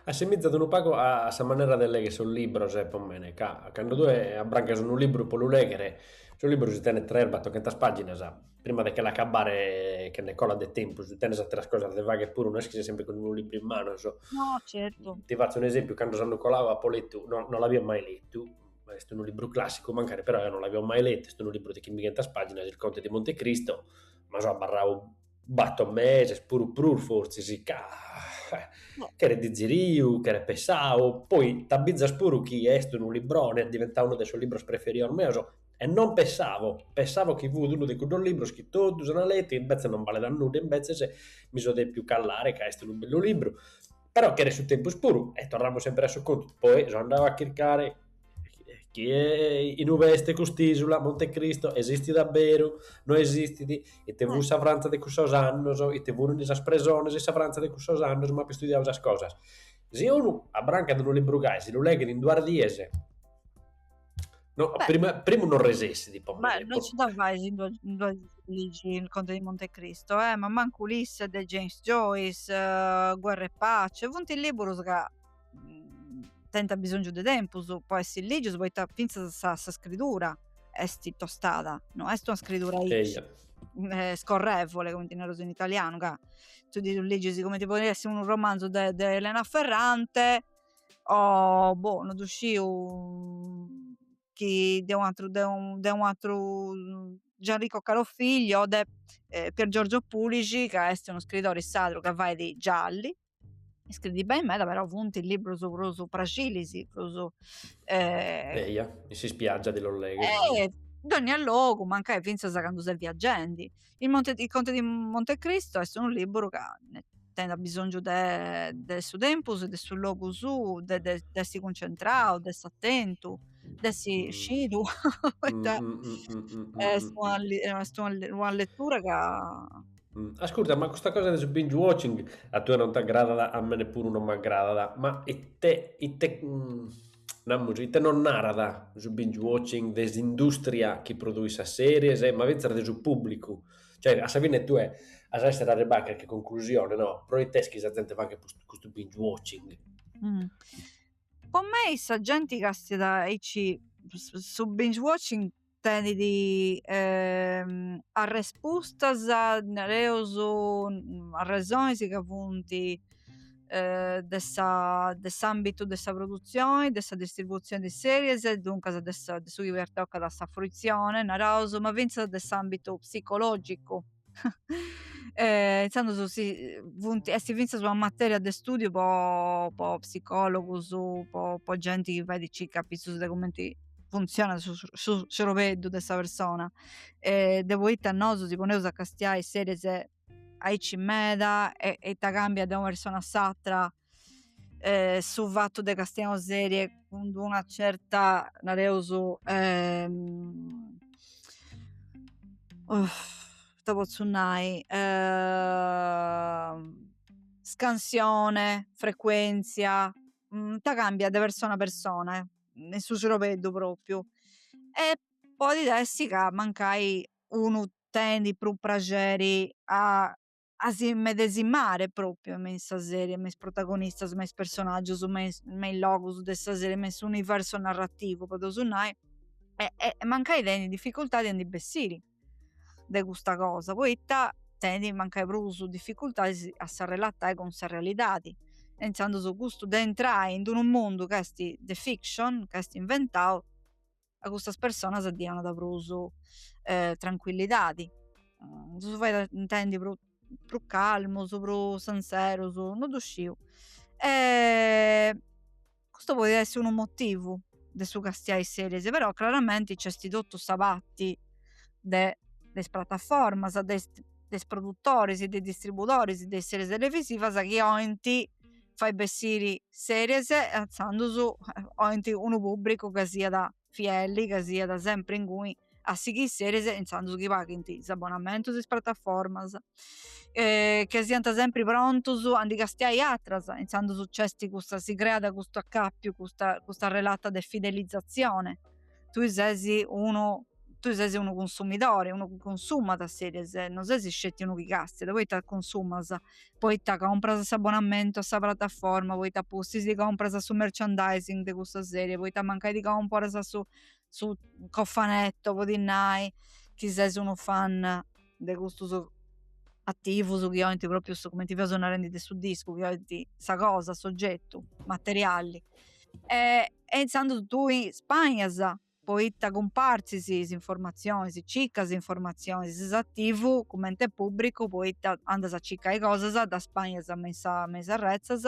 Assimizat unu pagu a sa manera de legher sos libros, est po mene, ca cando tue abbrancas unu libru po lu legher, su libru si tenet tres batoghentas pàginas, prima de che l'acabbare, che nde colat de tempus, tenes àteras cosas de fagher puru, no est chi ses semper cun unu libru in manos. No, certu. Ti fatzo un'esempiu, cando s'annu colau apo letu, no l'avio mai letu, est unu libru clàssicu mancari, però eo no l'avio mai letu, est unu libru de chimbighentas pàginas, Il conte di Montecristo, ma so abarrau bator meses, puru prus fortzis, ca cheret diziriu, cheret pessau, poi t'abizas puru chi est unu libroni, est diventau unu de sos libros preferidos meus, e non pessavo, pessavo chi fut unu de cuddos libros chi totus ant letu e imbetzes non balet a nudda, imbetzes mi so depiu callare ca est unu bellu libru Però cheret su tempus puru, e torramus semper a su contu, poi so andau a chircare chi in ube est cust'isula, Monte Cristo, esistit a beru, no esistit, ite fut sa Frantza de cussos annos, ite funi sas presones in sa Frantza de cussos annos, m'apo istudiau sas cosas. Si unu abrancat unu libru gai si lu leghet in duas dies No, primu, primu non resessit po Ma non nci da fais in duas, in duas a ligi il Conte di Montecristo, eh? ma manco Ulisse de James Joyce, uh, Guerra e Pace, funt liburus ca mm, tenint bisongiu de tempus po essi ligius, poita fintzas sa, sa scridura est tostada, no est una scridura eja. Eh, scorrevole, cumenti naraus in italianu, ca tui ligis comenti podit essi unu romanzu de Elena Ferrante, o boh no ddu sciu chi de un'atru de un de un'atru Gianrico Carofiglio o de Pier Giorgio Pulixi ca est unu scriidori sardu ca fait gialli scriit beni meda però funt libbrus prus fàcilis prus eia in s'ispiaggia de los legher in dònnia logu mancai finzas candu ses viaggendi I Monte, il Conte di Monte Cristo est unu liburu ca tenit bisongiu de, de su tempus, de su logu suu, de, de, de essi cuncentrau, de essi atentu, de essi mm. scidu, poita mm, mm, est, una, est una, una letura ca... Ascurta, ma custa cosa de su binge watching a tene non t'agradat, a mene puru non m'agradat, ma ite, ite, namus, ite nos narat su binge watching de s'industria chi produit sas series, ma fintzas de su pùblicu, cioè a sa fine tue as a esser arribadu a carchi conclusione, no, pro ite est chi sa zente faghet custu binge watching. Po mei sa genti castet aici su binge watching tenit arrespustas, nareus asresonis ca funt de sa de s'ambitu de sa produtzioni, de sa distributzioni de is series, duncas de su chi pertocat a sa fruitzioni naraus, ma fintzas de s'ambitu psicologicu. eh, intzandus si, funt, est fintzas una materia de studiu po, po psicologus, po, po genti chi fait circa apitzus de cumenti funtzionat su, su cerobeddu de sa persona e de poita nosu si poneus a castiai series aici meda e, e ita cambiat de una persona a s'atra eh, su fattu de castiai una serie cun una certa nareus eh, oh, ita pozzu nai eh, scansione frecuenzia mm, ita cambiat de persona a persona eh in su cirobeddu propriu e podit essi ca mancai unu tenit prus praxeri a a s'immedesimare pròpriu me in sa sèrie, me is protagonistas, me is personàgius, me is me is logus de sa sèrie, me in s'universu narrativu podeus nai e e mancai tenit difficultadi a ndi bessiri de custa cosa poita tenit mancai prus difficultadis a s'arrelatai cun sa realidadi e intzandus custu de intrai in d'unu mundu ca esti de fiction ca esti inventau a custas personas ddi 'onat prus eh, tranquillidadi, mm, ddus fait intendi prus, prus calmus, prus senseros, no ddu sciu. E custu podit essi unu motivu de su castiai series, però craramenti nc'esti totu sa patti de, de is prataformas, de is, de is produtoris, de is distribudoris de is series televisivas chi 'ointi fai bessiri series e intzandus oint unu pubbricu ca siat fielli ca siat sempri inguni a sighiri series e intzandus chi paghint is abbonamentus is prataformas ca siant sempri prontus a ndi castiai atras intzandus c'esti custa si creat custu accapiu custa custa relata de fidelizazione tui ses unu tui ses unu cunsumidore, unu chi consumat series, non ses sceti unu chi castet, poita consumas, poita compras s'abonamentu a sa prataforma, poita a pustis ti compras su merchandising de custa serie, poita mancai ti comporas su su cofanetto po ti nai chi ses unu fan de custus attivus chi ointi propriu su cumenti fiaus narendi de su discu chi ointi sa cosa s'ogetu materiali e e inzandus tui ispainas poita cumpartzis is informatzionis circas is informatzionis ses attivu cumenti e pubbricu poita andas a circai cosas ddas spainas me in sa me is arretzas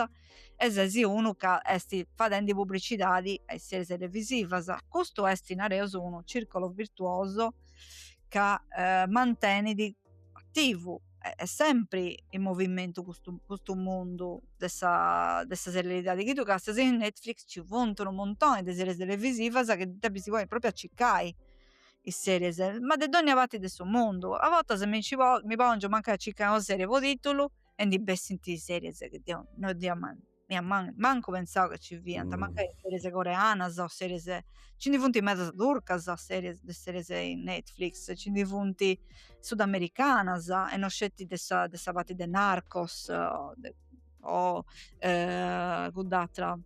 e ses unu ca esti fadendi pubbricidadi a is series televisivas custu esti nareus unu circolo virtuoso ca eh, mantenit attivu e sempre in movimentu custu, custu mundu de sa, de sa serialidadi chi tui castias in Netflix ci funt unu muntoni de series televisivas chi ti depis ponni propriu a circai is series ma de dogna parti de su mundu a bortas mi nci mi pongio mancai a circai una serie po titulu e ndi bessint series chi deu no ddi mi at man- mancu pensau ca ci fiant, mm. mancai series coreanas o series... Ci ndi funt medas turcas, series, de series in Netflix, ci ndi funt sudamericanas e non sceti de sa, de sa parti de Narcos o, de, o eh, cudd'atra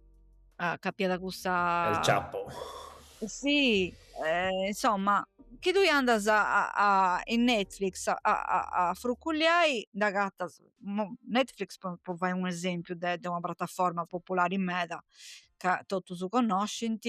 ah, ca fiat cussa... El Chapo. Sì, eh, insomma, chi tui andas a, a, in Netflix a, a, a frucculiai, nd'agatas Netflix po fai un'esempiu de de una prataforma populari meda ca totus connoscint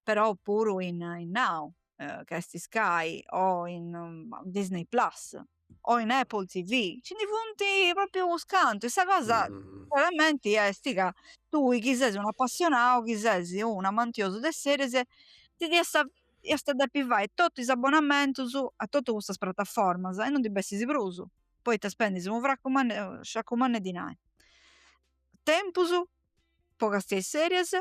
però puru in in Now ca est Sky o in Disney plus o in Apple TV ci ndi funt propriu unus cantu e sa cosa craramenti esti ca tui chi ses unu apassionau chi ses un amantiosu de series ti iast a depi fai totu is abbonamentus a totu custas prataformas e non ndi bessis prus poita spendis unu fracu mannu 'e sacu mannu 'e dinai tempus po castiai series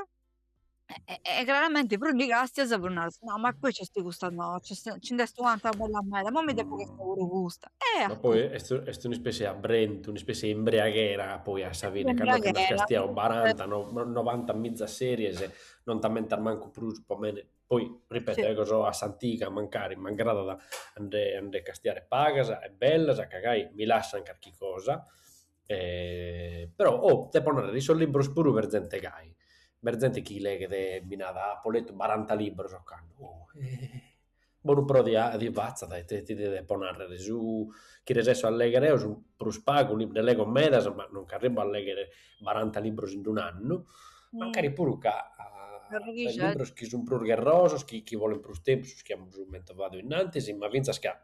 e craramenti prus ndi castias prus naras no ma poi c'est custa no ci nd'est u' atra bella meda imoi mi depu castiai puru custa e ma poi est un'ispessia 'e abbrentu un'ispessia 'e imbriaghera poi a sa fine cando nd'as castiadu baranta no novanta mizas series non t'ammentas mancu prus po mene Poi, ripeto, ego so a s'antiga, mancari m'agradat a nde a nde castiare pagas e bellas, ca gai mi lassant carchi cosa. Però, oh, depo narrer, in sos libros puru b'est zente gai, b'est zente chi leghet e mi narat, apo letu baranta libros ocannu, oh, bonu pro ti fatzat ite ti depo narrer, su chi resesso a legher eo su prus pagu, nde lego medas ma non nch'arribu a legher baranta libros in d'un'annu, mancari puru ca is libros chi sun prus gherrosos, chi bolint prus tempus, su chi amus mentovadu innantis, ma fintzas ca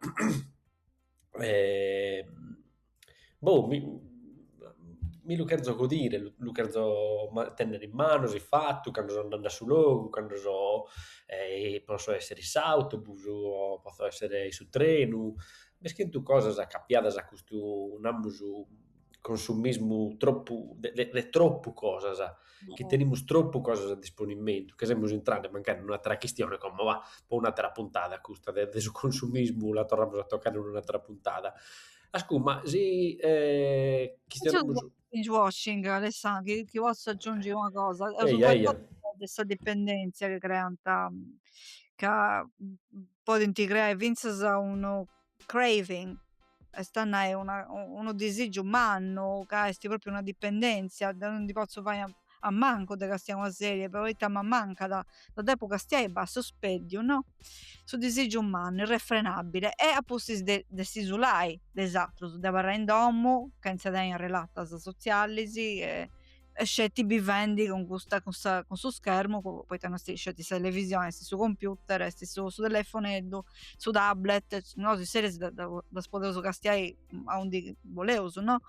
boh mi mi lu cherzo godire, lu cherzo tenner in manos e fatu, cando so andende a su logu, cando so potzo esser in s'autobus o potzo esser in su trenu, b'est chentu cosas acapiadas a custu, naramus, consumismu tropu de de de tropu cosas, chi tenimus tropu cosas a disponimentu, ca semus intrende mancari in un'atera chistione, como va, po un'atera puntada custa de de su consumismu la torramus a tocare in un'atera puntada. Ascù, ma si Binge watching Alessà, chi potzu aggiungi una cosa, Eia eia de sa dipendèntzia chi creant ca podint creai fintzas unu craving, est a nai una unu disigiu mannu ca esti propriu una dipendenzia, deu non ndi pozzu fai a mancu de castiai una serie poita mi mancada, dda depu castiai e basta, su speddiu no, su disigiu mannu irrefrenabile e apustis de de s'isulai de is atrus, de abarrai in domu chentza tenni arrelatas sotzialisi e e sceti bivendi cun custa cun, sa, cun su schermu poita non est sceti sa televisioni est su computer est su, su telefoneddu su tablet nosu is seris ddas podeus castiai aundi boleus no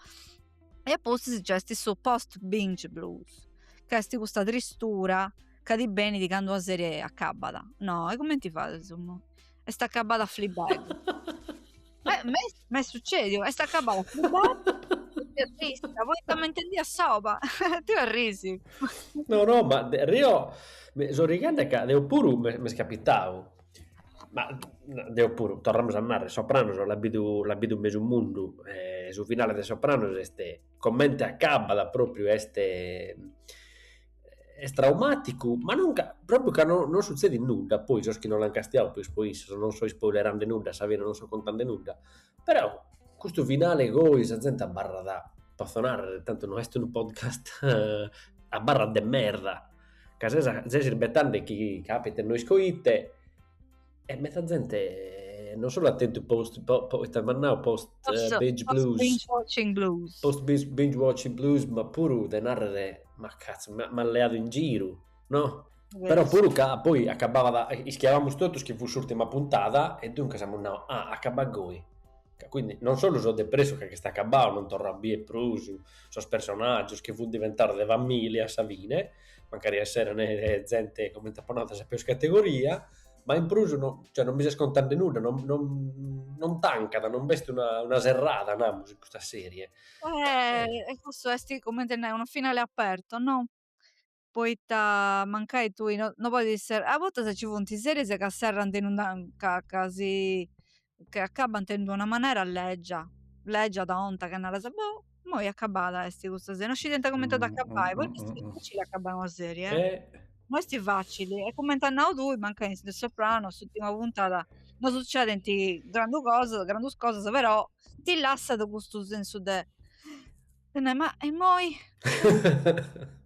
e a pustis nc'est su post binge blues ch'est custa tristura ca ti benit candu una serie acabbat no e cumenti fais est acabada Fleabag. Eh, m'est sucediu, est acabada Fleabag. Terrorista, voi sta mentendia soba, ti arrisi. No, no, ma deo so ridende ca deo puru m'est capitau. Ma n- deo puru, torramus a narrer, Sopranos l'at bidu, l'at bidu mesu mundu, e su finale de Sopranos est, comente acabat propriu est est traumaticu, ma non ca propriu ca no non sutzedit nudda, po sos chi no l'an castiadu po is- po issos, non so ispoilerende nudda a sa fine, non so contende nudda, però custu finale goi sa zente abarrat, potzo narrer, tantu no est unu podcast abarrat de merda, ca ses irbetende chi capitet no isco ite E meta zente non solu at tentu post ite amus nau post binge blues, binge watching blues, post binge watching blues ma puru de narrere ma cazzo m'at leadu in giru no, però puru ca poi acabada ischiabamus totus chi fut s'urtima puntada e duncas amus nau ah acabat goi, ca quindi non solu so depressu ca est acabau non torru a bier prus sos personaggios chi funt diventados de familia a sa fine, mancari esseret zente comente apo nau de sa peus categoria ma in prus no cioè non mi ses contande nudda, non non non tancat, non b'est una una serrada namus in custa serie. E cussu est comente nai unu finale aperto, no? Poita mancai tui no no podit essi, a bortas ci funt is series ca serrant in una ca casi chi acabant in d'una manera legia legia tonta che naras boh immoi acabada est custa serie non scidiant comente at a acabai poi est dificili acabai una serie eh no est facili e comente as nau tui mancai in The Sopranos s'ultima puntada no sucedent grandu cosas grandus cosas però ti lassat custu sensu de Tene, ma e moi?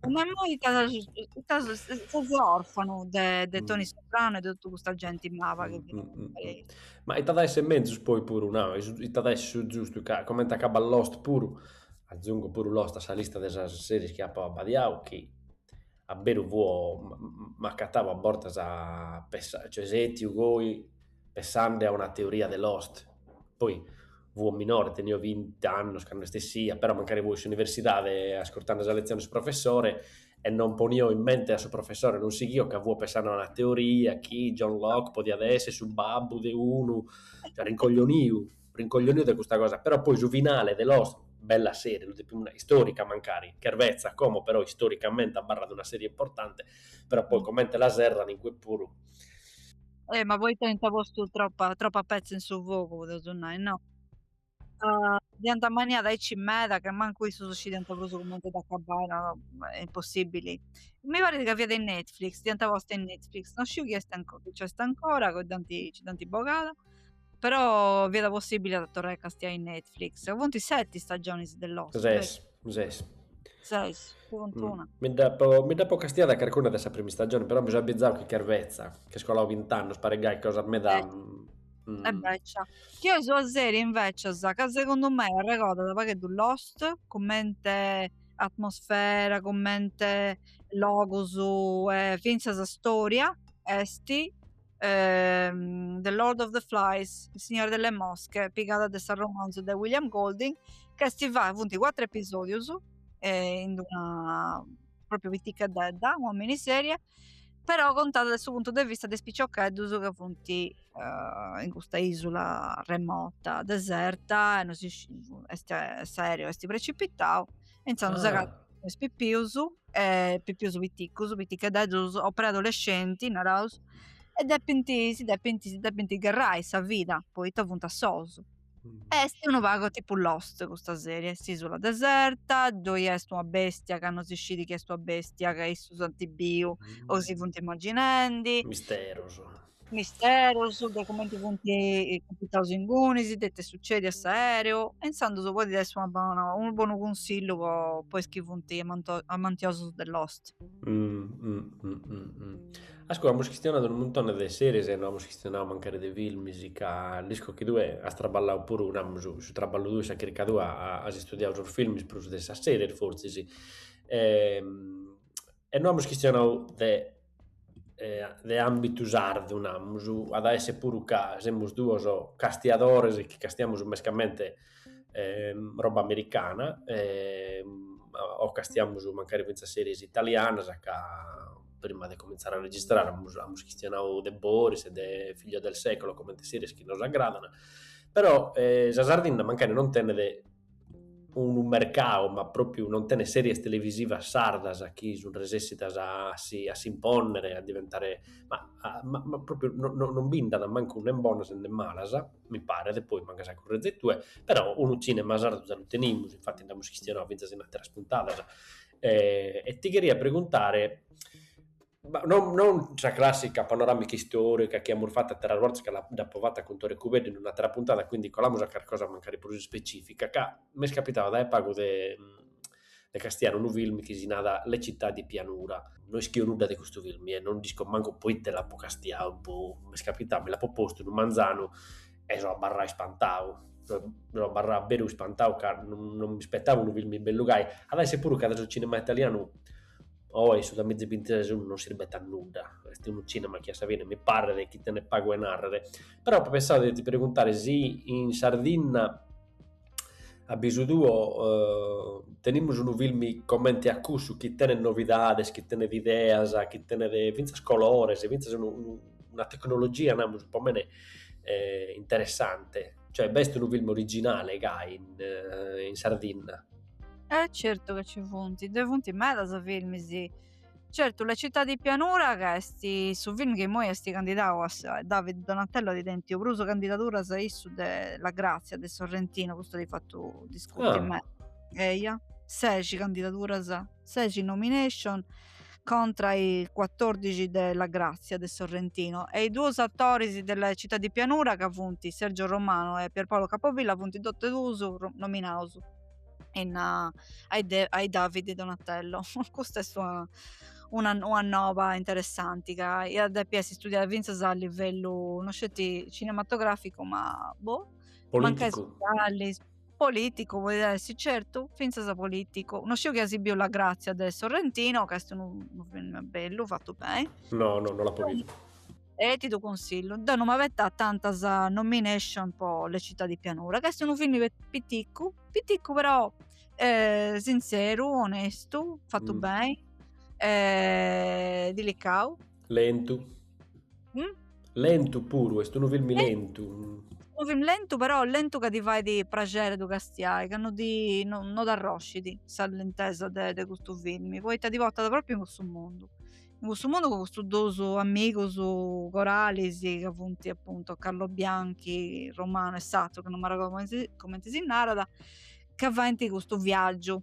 ma moi itas, itas ses orfanu de, de mm. Toni Soprano e de totu custa genti mava che mm, mm, mm Ma diat a essere mezzus poi puru, no, diat a essere su giustu, ca, comente acabat Lost puru, azungo puru Lost a sa lista de sas series chi apo abbadiau, chi a beru fuo m'acatau a bortas cioè setiu goi pessande a una teoria de Lost, poi fuo minore tenio bint'annus candu est essia, però mancari fuo in s'universidade ascurtande sa letzione de su professore e non ponio in mente a su professore, non sighio ca fuo pessande a una teoria chi John Locke podiat essi su babbu de unu rincoglioniu rincoglioniu de custa cosa, però poi su finale de Lost, bella serie, lu depimus nai, istorica mancari, chervetza como però istoricamenti abarrat una serie importanti, però poi comente la serrant in cue puru. Eh, ma poita ant postu tropa tropa petza in su fogu, podeus nai, no? Uh, dd'iant ammanniada aici meda che mancu issus scidiant prus comente dd'acabai, no, no, est impossibili. Mi parit ca fiat in Netflix, dd'iant posta in Netflix, non sciu chi est ancora, chi ci est ancora, ca dd'ant, ci dd'ant bogada. Però fiat possibile a torrai a castiai in Netflix. Funt seti stagionis de Lost. Ses, ses. Ses, funt. Una. Mi dd'apo, mi dd'apo castiada carcuna de sa prima stagione, però mi so abbizau chi chervetza, che est colau bint'annus, paret gai cosa meda... Eh. Mm. E invece, una serie invecias, ca segundu me arregordat pagheddu Lost, commente atmosfera, commente logus, e fintzas storia, est The Lord of the Flies, Il Signore delle Mosche, pigada de su romanzu de William Golding, ca est fata, funt cuatru episodius e in d'una propriu piticheddedda, una miniserie, però contada dae su puntu de vista de is piciocheddus ca funt in custa isula remota, deserta e no si est s'aereo est precipitau e intzandus s'agatat is pipius e pipius piticus, pitichededdus o preadolescenti naraus e depint si depint si depint gherrai sa vida poita funt assous. Est unu pagu tipu lost custa serie, est s'isula deserta, ddoi est una bestia ca no si scit chi est una bestia ca issus ant biu o si funt imaginendi, misterus, Misterus de cumenti funt capitaus inguni, su chi dd'est sutzèdiu a s'aereu, e intzandus podit essi una bona, unu bonu cunsillu po po is chi funt amantiosus de Lost. Ascù, amus chistionadu unu muntone de series e no amus chistionau mancari de filmis ca l'isco chi tue as traballau puru, namus, su traballu tuu e sa chirca tua as istudiau sos filmis prus de sas series fortzis e no amus chistionau de de àmbitu sardu, namus, at a essi puru ca semus duos castiadores chi castiamus mescamente roba americana o castiamus mancari fintzas series italianas ca prima de comintzare a registrare amus amus chistionadu de Boris e de Figlio del secolo comente series chi nos agradan, però sa Sardinna mancari non tenet unu mercau, ma pròpiu non tenet sèries televisivas sardas chi sunt resèssidas a si a s'impònnere, a diventare, ma ma ma pròpiu no no non bi nd'at mancu nen bonas nen malas, mi paret, poi mancai as a currèzere tue, però unu tzìnema sardu lu tenimus, infati nd'amus chistionau fintzas in àteras puntadas e ti cheria preguntare Non non sa clàssica panoràmica istòrica chi amus fatu àteras bortas, ca dd'apo fata cun Tore Cubeddu in un'àtera puntada, quindi colamus a carchi cosa mancari prus ispecìfica, ca m'est capitau dae pagu de de castiare unu film chi si narat Le città di pianura, no ischio nudda de custu film e non isco mancu proite l'apo castiau, boh, m'est capitau, mi l'apo postu unu manzanu e so abarrau ispantau, so so abarrau a beru ispantau ca non non m'ispettava unu film bellu gai, at a essi puru ca de su cinema italianu Oe su duamiza bintises non sirbit a nudda, est unu cinema chi a sa fine mi paret chi tenet pagu 'e narrer. Però apo pensadu de ti preguntare si in Sardinna a bisu tuo tenimus unu film comente a cussu chi tenet novidades, chi tenet ideas, chi tenet fintzas colores, fintzas unu unu una tecnologia namus po mene interessante, cioè b'est unu film originale gai in Sardinna Eh certu ca ci funt, ddoi funt medas filmis, certu La città di pianura ca est su film chi immoi est candidau a sa, David Donatello at tentu prus candidaduras issu de La grazia de Sorrentino, custu at fatu discuti meda, eia, seixi candidaduras, seixi nomination contra a is cuatòrdixi de La Grazia de Sorrentino e is duos atoris de La Città di Pianura ca funt Sergio Romano e Pierpaolo Capovilla funt totu duus nominaus in a a is David di Donatello custa est una una una noba interessanti ca iat depi essi studiada fintzas a livellu no sceti cinematograficu ma boh mancai politicu podit essi certu finzas politicu no sciu chi as biu la grazia de Sorrentino ca est unu film bellu fatu beni no no no l'apo biu e ti ddu cunsillu deu no m'abetamu tantas nomination po le città di pianura ca est unu film piticcu piticcu però sintzeru onestu fatu beni e dilicau Lentu. Mm? Lentu puru, est unu filmi lentu. Unu filmi lentu, però lentu ca ti fait praxeri ddu castiai, ca no ti no, no t'arroscit sa lentesa de, de custu filmi, poita ti portat propriu in cussu mundu. In cussu mundu cun custus duus amigus coralis ca funt appuntu Carlobianchi, Romano e s'atru ca no m'arregodu cumenti si narat, ca faint custu viaggiu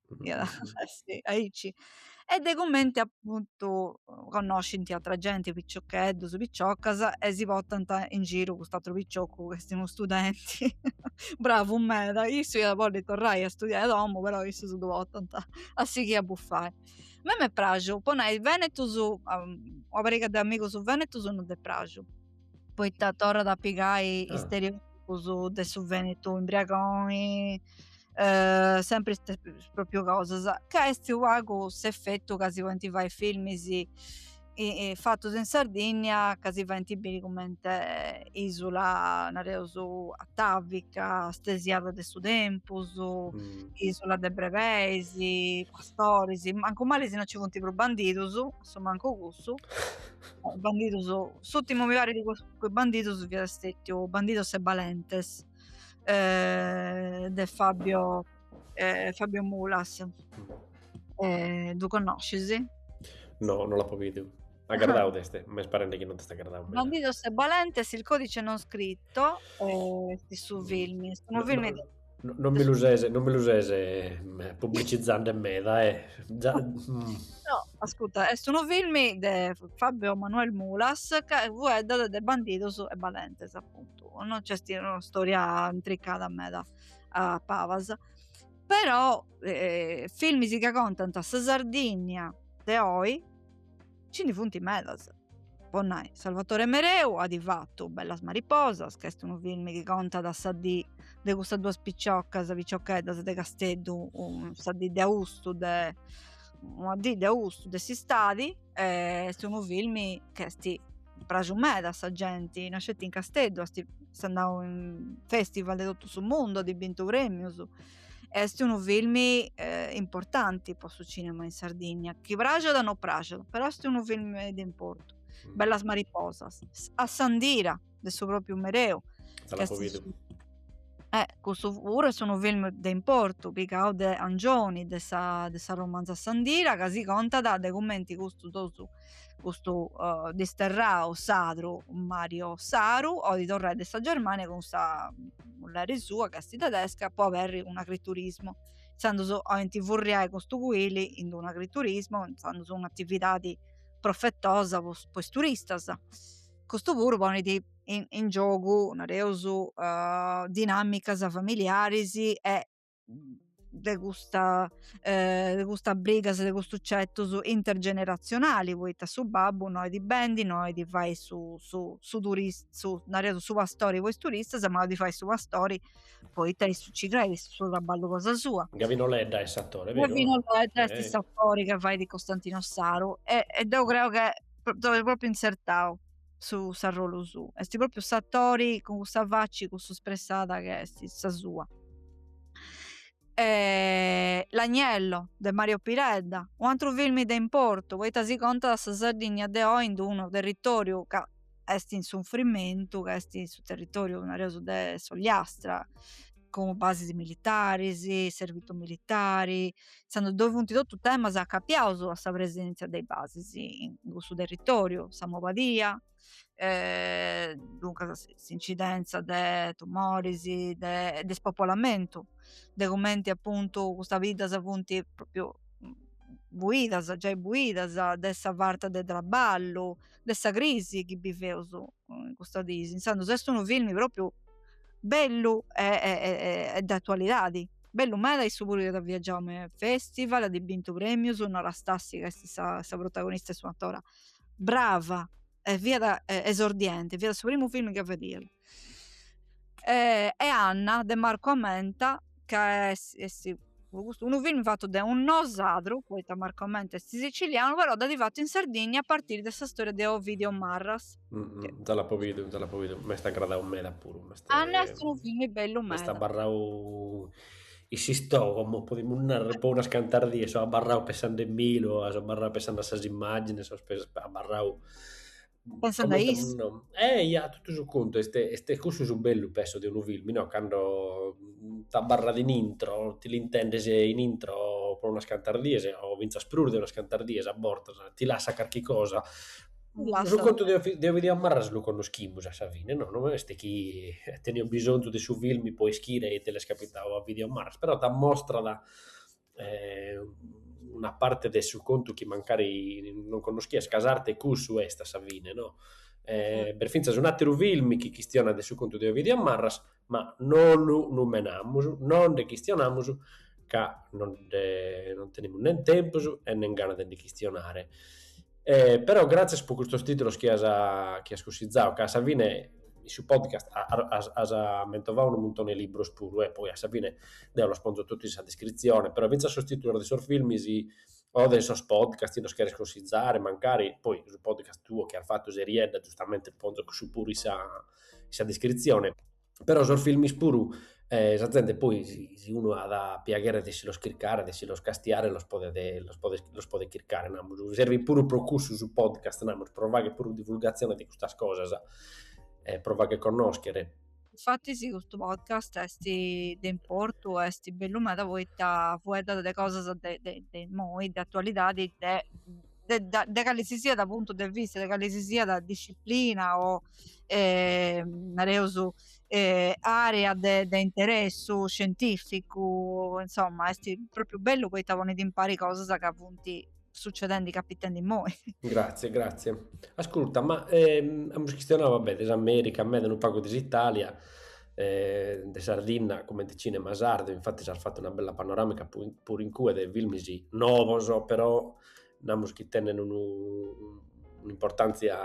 aici e de cumenti appuntu connoscint atra genti piciocheddus piciocas e si portant in giru cust'atru piciocu chi est unu studenti bravu meda issu iat bolli torrai a studiai a domu però issus ddu portant a sighì a buffai a mei m'est praxu po nai venetus una pariga de amigus venetus non dd'est praxu poita torrat a pigai istereotipus de su Venetu imbriagoni eh, sempri iste, propriu cosas ca est unu pagu s'effettu ca si podint fai filmis i, i, fatus in Sardinnia ca si faint biri cumenti isula nareus atavica stesiada de su tempus mm. isula de brebeis pastoris mancu mali si non ci funt prus bandidus su mancu cussu bandidus s'urtimu mi parit de is bandidus fiat stetiu bandidos e balentes eh, de Fabio eh, Fabio Mulas eh, ddu connoscis? no, non l'apo bistu Agradau t'est, m'est parende chi non t'est agradau. Bandidos e Balentes, il codice non scritto, eh, su film, est unu film no, No, non mi lu ses, non mi lu ses eh, pubblicizzande meda, eh. Già, mm. No, ascolta, est unu film de Fabio Manuel Mulas chi fueddat de bandidos e balentes, appuntu. Non c'est una storia intricada meda a palas. Però eh, filmis ca contant sa Sardigna de oi, ci ndi funt medas. Po nai, Salvatore Mereu at fatu Bellas mariposas, ch'est unu filmi chi contat sa dì de custas duas piciocas, piciocheddas de Casteddu, sa dì de austu de una dì de austu de s'istadi e est unu filmi che est pràxiu meda a sa genti, non sceti in Casteddu, est andau in festival de totu su mundu, at bintu premius est unu film eh, importanti po su cinema in Sardigna, chi praxat o no praxat, però est unu film de importu. Mm. Bellas mariposas, Assandira de su propriu Mereu. Eh, custu puru est unu film de importu, pigau de Angioni, de sa, de sa romanza Assandira, ca si contat de cumenti custu tosu custu uh, disterrau sadru Mario Saru olit torrai de sa Germania cun sa mulleri sua ca est tedesca po aberri un agriturismo intzandus olint furriai custu cuili in un agriturismo intzandus un'atividadi profetosa po, po is turistas custu puru ponit in, in giogu nareus uh, dinamicas familiaris e de custa eh, de custas brigas, de custus certus intergeneratzionali, poita su babbu no olit bendi, no olit fai su, su, su turista, su, nareus su pastori po is turistas, ma olit fai su pastori poita issu ci creit, est su traballu cosa sua. Gavino Ledda est s'atori, veru? Gavino Ledda est eh. s'atori ca fait Costantino Saru e, e deu creu ca dd'at propriu insertau. su s'arrolu suu est propriu s'atori cun cussa facci cussa spressada che est sa sua e L'agnello de Mario Piredda un antru filmi de importu poita si contat sa Sardigna de oi in unu territoriu ca est in sunfrimentu ca est su territoriu nareus de s'Ogliastra cun basis militaris servitu militari intzandus ddoi funt totus temas acapiaus a sa presèntzia de is basis in cussu territòriu, sa maladia, duncas s'incidèntzia de tumoris, de de spopolamentu, de cumenti apuntu custas biddas funt pròpriu buidas, giai buidas, de sa farta de traballu, de sa crisi chi biveus in custas diis, intzandus est unu filmi pròpriu bellu e de atualidadi bellu meda issu puru at viagiau me is festival at bintu premius Nora Stassi ca est sa sa protagonista est un'atora brava e fiat esordienti fiat su primu film chi fadiat e e Anna de Marco Amenta ca est est po custu unu film fatu de un nosadru poita Marco Amenta est sicilianu però dd'at fatu in Sardigna a partiri de sa storia de Ovidio Marras Mm, te l'apo bidu, te l'apo bidu. M'est agradau meda puru. M'est, Anna est unu filmu bellu meda. M'est abarrau in s'istògomo, podimus narrare, po unas cantas dies, so abarrau pensandomilu, so abarrau pensando a sas immagines, so abarrau... Pensando a is... No. Eh, ia, totu su contu, est, est cussu su bellu, penso, de unu filmu, no? Cando t'abarrat in intro, ti l'intendes in intro po unas cantas dies, o fintzas prus de unas cantas dies a bortas, ti lassat carchi cosa, Su contu de Ovidiu Marras lu connoschimus a sa fine, no? No est chi teniat bisonzu de su film po ischire ite l'est capitau a Ovidiu Marras, però t'ammostrat una parte de su contu chi mancari non connoschias, ca s'arte cussu est a sa fine, no? B'est fintzas un'ateru film chi chistionat de su contu de Ovidiu Marras, ma no lu numenamus, no nde chistionamus ca no nde non tenimus nen tempus e nen gana de ndi chistionare. Però gràtzias po custos tìtulos chi as chi as cussizau ca a sa fine in su podcast as mentovau unu muntoni 'e libros puru e poi a sa fine deu los ponzo totu in sa descritzione, però fintzas sos tìtulos de sos filmis o de sos podcast chi nos cheres cussizare mancari, poi su podcast tuo chi as fatu Seriedda giustamente ponzo cussu puru in sa sa descritzione, però sos filmis puru e sa zente poi si unu at piaghere de si los chircare, de si los castiare los podet los podet los podet chircare namus, servit puru pro cussu su podcast namus, pro fagher puru divulgatzione de custas cosas e pro fagher connoschere. Infattis custu podcast est de importu, est bellu meda poita fueddat de cosas de de de imoi, de atualidadi, de de cali si siat puntu de vista de cali si siat disciplina o nareus area de de interessu scientificu insomma est propriu bellu poita ponit impari cosas ca funt succedendi capitendi immoi. Gratzie gratzie, ascurta ma amus chistionau vabè de s'America meda e unu pagu de s'Italia e de Sardinna comente cinema sardu, infattis as fatu una bella panoramica puru incue de filmis nobos però namus chi tenent unu un'importàntzia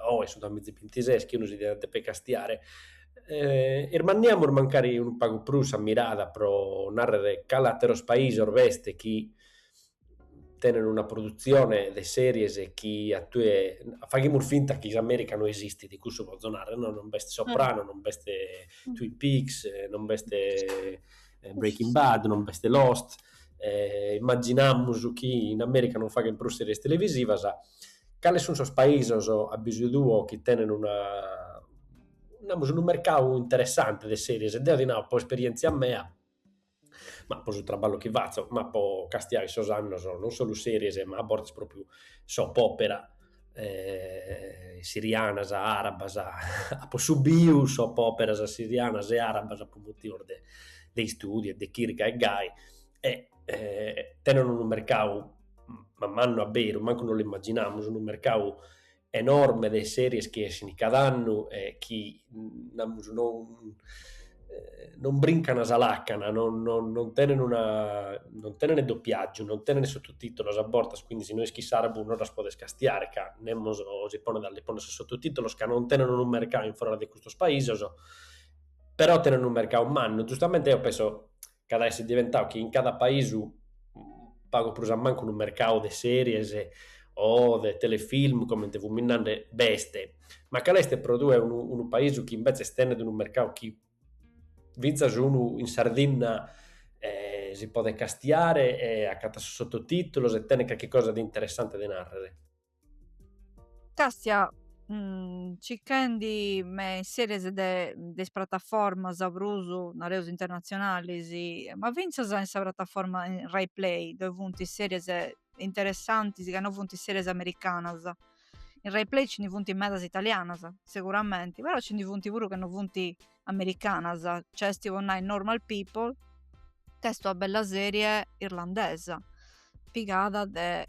oe su duamiza bintises, chi unu si diat depi castiare, irmanniamus mancari unu pagu prus sa mirada pro nàrrere cale àteros paisos b'est chi tenent una produtzione de series chi a tue, faghimus finta chi s'Amèrica no esistit, cussu potzo nàrrere, no non b'est Soprano, non b'est Twin Peaks, non b'est Breaking Bad, non b'est Lost, immaginamus chi in Amèrica non faghent prus sèries televisivas. Cales sunt sos paisos, a bisu tuo, chi tenent una, namus, unu mercau interessante de sèries? Deo ti nau, po esperièntzia mea, ma po su traballu chi fatzo, ma po castiare sos annos, non solu sèries ma a bortas pròpriu soap opera sirianas, arabas, apo subiu soap operas sirianas e arabas po motivos de de istudiu e de chirca e gai e tenent unu mercau ma mannu a beru, mancu no l'imaginamus, unu mercau enorme de series chi essin cada annu e chi namus, non, eh, non brincana sa lacana, non, non, non tenen una, non tenen doppiaggiu, non tenen sottotitolos a bortas, quindi si no ischis s'arabu non las podes castiare, ca nemos si ponet a li poner sos sottotitolos, ca non tenen unu mercau in foras de custos paisos, però tenen unu mercau mannu, giustamente eo penso ch'at a essi diventau chi in cada paisu pagu prus a mancu unu mercau de series o de telefilm, comente fumis nande, b'est, ma cale est pro tue unu paisu chi imbetzes tenet unu mercau chi fintzas unu in Sardinna si podet castiare e acatat sos sottotìtulos e tenet carchi cosa de interessante de nàrrere? Càstia circhendi me is series de is prataformas prus nareus internatzionalis ma fintzas in sa prataforma in Rai Play ddoi funt series interessantis ca no funt series americanas in Rai Play nci ndi funt medas italianas seguramenti però nci ndi funt puru ca no funt americanas, c'est po nai Normal People, ch'est una bella serie irlandesa pigada de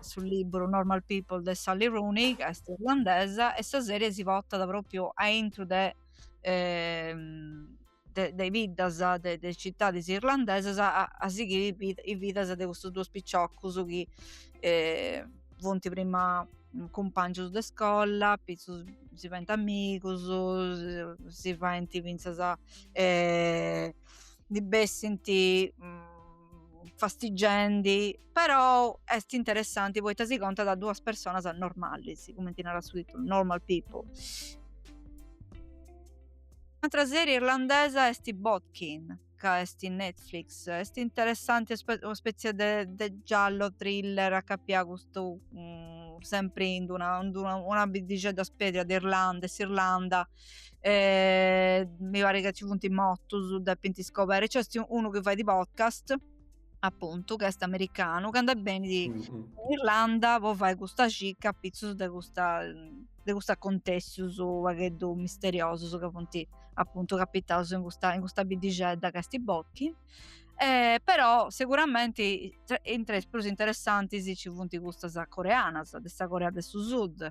su liburu Normal People de Sally Rooney ca est irlandesa e sa serie si portat propriu aintru de de is biddas de is citadis irlandesas a sighiri is bidas de custus duos piciocus chi funt prima cumpàngius de iscola, apitzus si faint amigus, si faint fintzas ndi bessint fastigendi, però est interessanti poita si contat de duas personas normalis, cumenti narat su titulu, Normal People. Un'atra serie irlandesa est Bodkin ca est in Netflix, est interessanti una spetzia de, de giallo thriller a capia custu um, sempri in una, in una, una biddixedda spedria de Irlanda, de s'Irlanda, mi parit ca ci funt motus, depint iscoberri, c'est unu chi fait podcast appuntu, ch'est americanu, ca nd'est bènniu mm, mm. in Irlanda po fai custa cicca a pitzus de custa de custos acontessius unu pagheddu misteriosus ca funt appuntu capitaus in custa, in custa biddixedda ca est Bodkin eh, però sicuramente intre is prus interessantis ci funt custas coreanas de sa Corea de su Sud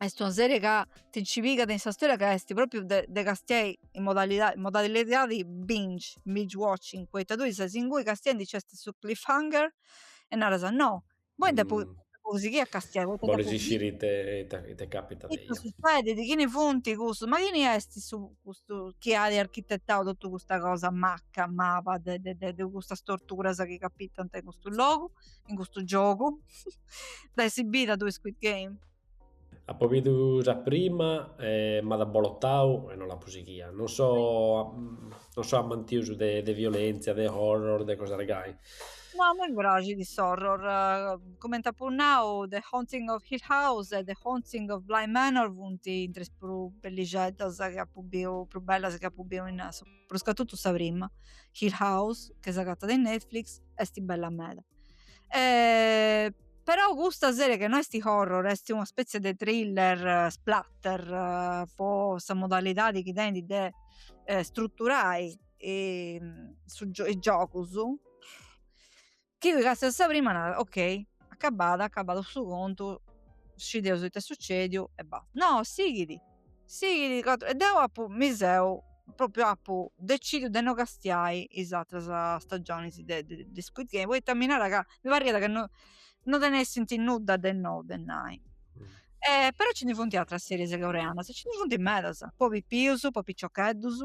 est una serie ca ti nci pigat in sa storia ca est propriu de de castiai in modalidadi in modalidadi binge binge watching poita tui ses inguni castiandi nc'est su cliffhanger e naras no imoi depu depu sighiri a castiai poita depu bolis isciri ite ite ite capitat ite sussèdit chini funt cussus ma chini est su custu chi at architetau totu custa cosa macca maba de de de de custas torturas chi capitant in custu logu in custu giogu dd'ais bida tui squid game Apo bidu sa prima e m'at abolotadu e no l'apo sighia, non so non so amantiosu de violentzia, de horror, de cosas gai. No, a mei mi praxit s'horror, comente apo nau The Haunting of Hill House e The Haunting of Bly Manor funt intre is prus bellixeddas chi apu biu, prus bellas chi apu biu in su prus ca totu sa prima, Hill House, che s'agatat in Netflix, est bella meda. E però custa serie che no est horror, est una spezie de thriller splatter po sa modalidadi chi tenit de struturai su is giogus Chi castias sa prima naras, ok, acabada, acabadu su contu, scideus ite est sucediu e basta. No, sighit, sighit, e deu apu, mi seu, propriu apu decidiu de no castiai is atras stagionis de de Squid Game poita mi narat ca, mi parriat ca no no tenessint nudda de nou de nai. Però nci ndi funt atras series coreanas, nci ndi funt medas, po pipius, po piciocheddus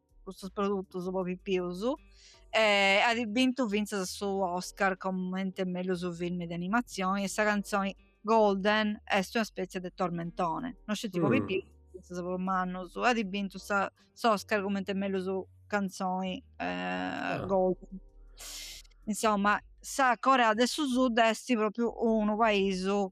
custos produtos po pipius e at bintu fintzas su Oscar comente mellus filmi de animatzioni e sa cantzoni Golden est una spètzia de tormentone non sceti po mm. pipius fintzas po mannus e at bintu sa, s'Oscar comente mellus cantzoni eh, ah. Golden insomma sa Corea de su Sud est propriu unu paisu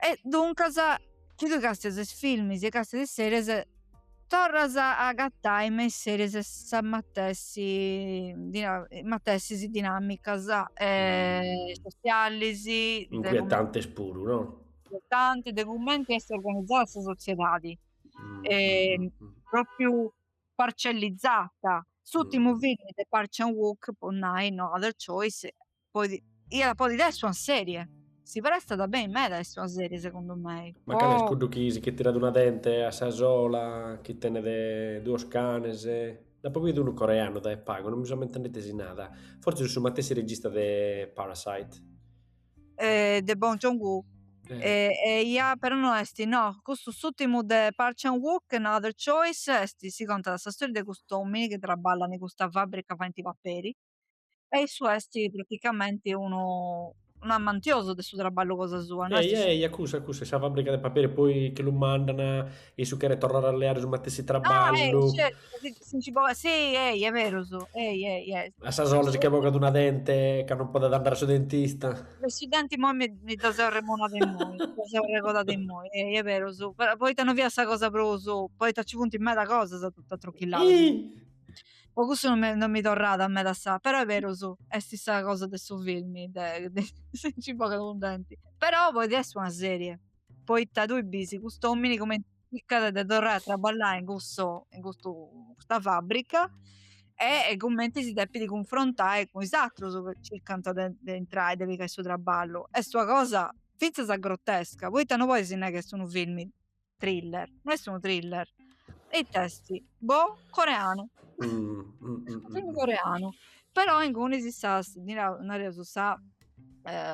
E duncas chi tui castias is filmis e castias is series torras a agatai me is series e sa matessi matessis dinamicas sosialis. Inquietantes puru no? Inquietantes de cumenti est organizada sa sotziedadi propriu parcellizata. S'urtimu filmi de Park Chan-wook po nai no other choice Podi, iat podi essi una serie. Si prestat beni meda a essi una serie segundu mei. Ma cale est cuddu chi si che tirat una dente a sa sola, chi tenet duos canes? Nd'apo bidu unu coreanu dae pagu, non mi so ammentendu ite si nada. Fortzis su matessi regista de Parasite. Eh, de Bong Joon-ho. Eia, però no est, no, custu s'ùrtimu de Park Chan-wook, No Other Choice, est, si contat sa storia de cust'òmini chi traballat in custa fàbrica faint paperi, E issu esti praticamenti unu unu amantiosu de su trabballu cosa sua. No esti. Ehi, ehi, a cussa, a cussa, sa fabbrica de paperi e poi chi lu mandana, issu cheret torrare a leare su matessi trabballu. Ah, ehi, certu, si nci bogat, si, ehi, è berus, ehi, ehi, ehi. A sa sola si che bogat una dente ca no podet andare a su dentista. De su denti immoi mi mi dda seu arremonada immoi, mi dda seu arregodada immoi, ehi, è berus, poita no fiat sa cosa prus, poita nci funt meda cosas totu atrochillada. Iih! Po cussu non mi, non mi torrat a meda sa. Però è berus, est sa cosa de su film, de, de si nci bogat unu denti. Però poi est una serie, poita tui bisi cust'omini cumenti circat de torrai a traballai in cusso, in custu, in custa fabbrica e cumenti si depit cunfrontai cun is atrus ca circant de, de intrai, de pigai su traballu. Est una cosa finzas grottesca, poita non podis nai ca est unu film Thriller, no est unu thriller, e it'est? Boh, coreanu, film coreanu, però ingunis sas, nareus sa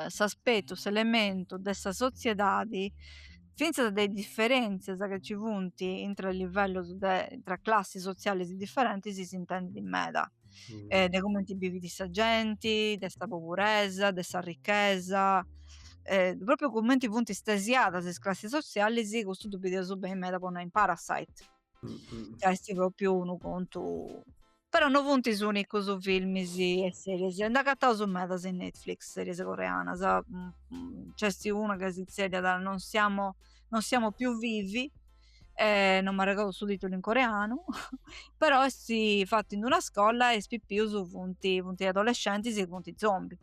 s'aspetu, s'elementu de sa sotziedadi, finzas de is differenzias chi ci funt intra is livellos de, intra classis sotzialis differentis s'intendit meda eh, de cumenti bivit sa genti, de sa poburesa, de sa ricchesa, eh, proprio cumenti funt stesiadas is classis sotzialis, custu ddu bidiaus beni meda po nai in Parasite, ca est proprio unu contu però no funt is unicus filmis e series, nd'agataus medas in Netflix, series coreanas, nc'est una ca si zerriat non siamo, non siamo più vivi, eh, non m'arregodo su titulu in coreanu però est fattu in d'una iscola e is pipius funt, funt adolescentis e funt zombies.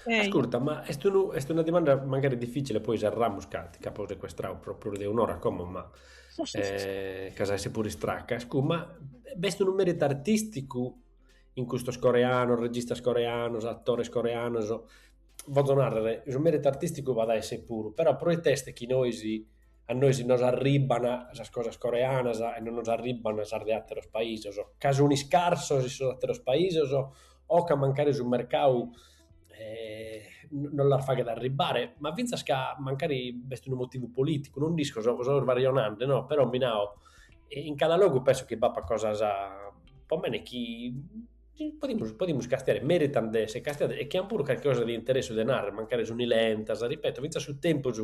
Ehi. Ascolta, ma est, unu, est una domanda magari difficile, poi serramus, ca ti c'apo sequestrau pro prus de un'ora como, ma eh, c'as a essi puru istracca. Scu, ma b'est unu meritu artisticu in custos coreanos, registas coreanos, attores coreanos, bozo nàrrere, su mèritu artìsticu b'at a èssere puru, però pro ite est chi nois a nois nos arribban sas cosas coreanas e non nos arribban sas de àteros paisos, ca sun iscarsos in sos àteros paisos o ca mancari su mercadu non las faghet arribbare, ma fintzas ca mancari b'est unu motivu polìticu, non nd'isco, so so sbarionende no, però mi nau, in cada logu penso chi b'apat cosas po mene chi Chi podimus podimus castiare, meritant de essere castiados e chi ant puru carchi cosa de interessu de narrer, mancari suni lentas, ripeto, fintzas su tempus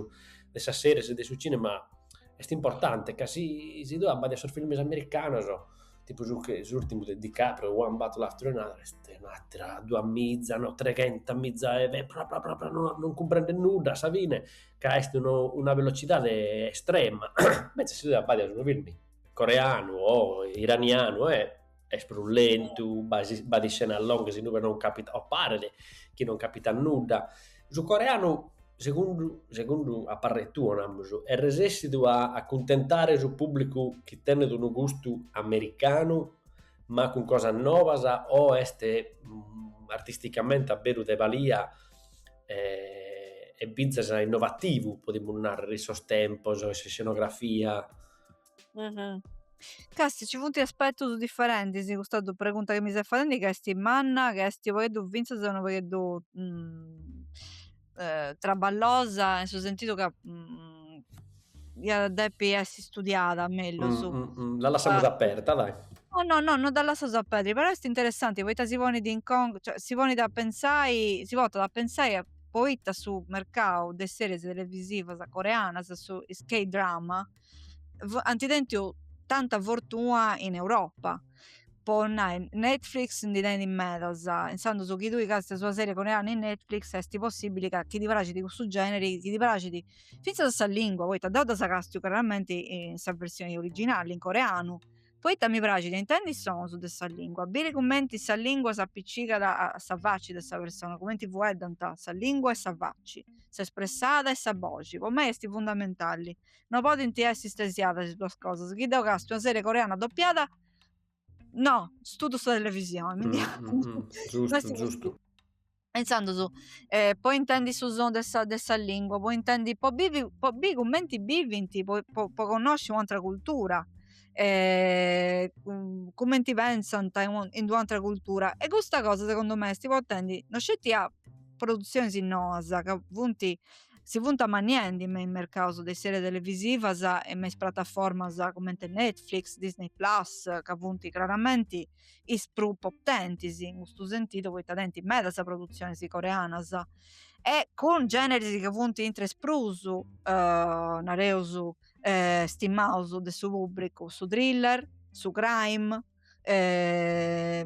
de sas series e de su cinema est importante, ca si si tue abbadias sos films americanos, tipu su che s'urtimu de DiCaprio, One Battle After Another, est un'atera duas miza, no, treghenta miza 'e ve pra pra pra, no non cumprendes nudda a sa fine, ca est no una velocidade estrema, invecias si tue abbadias unu film coreanu o iranianu e est prus lentu, b'at iscenas longas in ue non capitat o paret chi non capitat nudda. Su coreanu, segundu segundu a parrer tua, namus, est resessidu a acuntentare su pùblicu chi tenet unu gustu americanu ma cun cosas nobas o est artisticamente a beru de balia e fintzas innovativu, podimus nàrrere, in sos tempos, in s'iscenografia Càstia, nci funt aspetus diferentis in custa pregunta chi mi ses fadendi ca est manna, ca est u' pagheddu fintzas unu pagheddu traballosa, in su sentidu ca iat depi essi studiada mellus. Dda lassamus aperta dai. No no no no dda lassaus aperta, però est interessanti poita si ponit in conca, cioè si ponit a pentzai, si portat a pentzai a poita su mercau de series televisivas coreanas, su is k-drama ant tentu tanta fortuna in Europa po nai Netflix ndi tenit medas insandos chi tui càstias una serie coreana in Netflix esti possibili ca chi ti praxit cussu generi chi ti praxit finzas sa lingua poita deu ddas càstiu craramenti in sa versioni originali in coreanu poita mi praxit a intendi is sonus de sa lingua biri cumenti sa lingua s'appicicat a sa faci de sa persona cumenti fueddant sa lingua e sa faci s'espressada e sa boxi po mei esti fundamentali No podint essi stresiadas is duas cosas, chi deu càstiu una serie coreana dopiada no studu sa televisioni mi ndi e intzandus po intendi su sonu de sa de sa lingua po intendi po bivi po biri cumenti bivint po po po connosci u'antra cultura cumenti pensant in d'u'antra cultura e custa cosa segundu me est portendi no sceti a produtzionis noas ca funt si funt amanniendi me is mercaus de is serie televisivas e me is prataformas cumenti Netflix, Disney Plus ca funt craramenti is prus potentis in custu sentidu poita tenint medas produtzionis coreanas e cun generis ca funt intra is prus nareus stimaus de su pubbricu, su thriller, su crime. e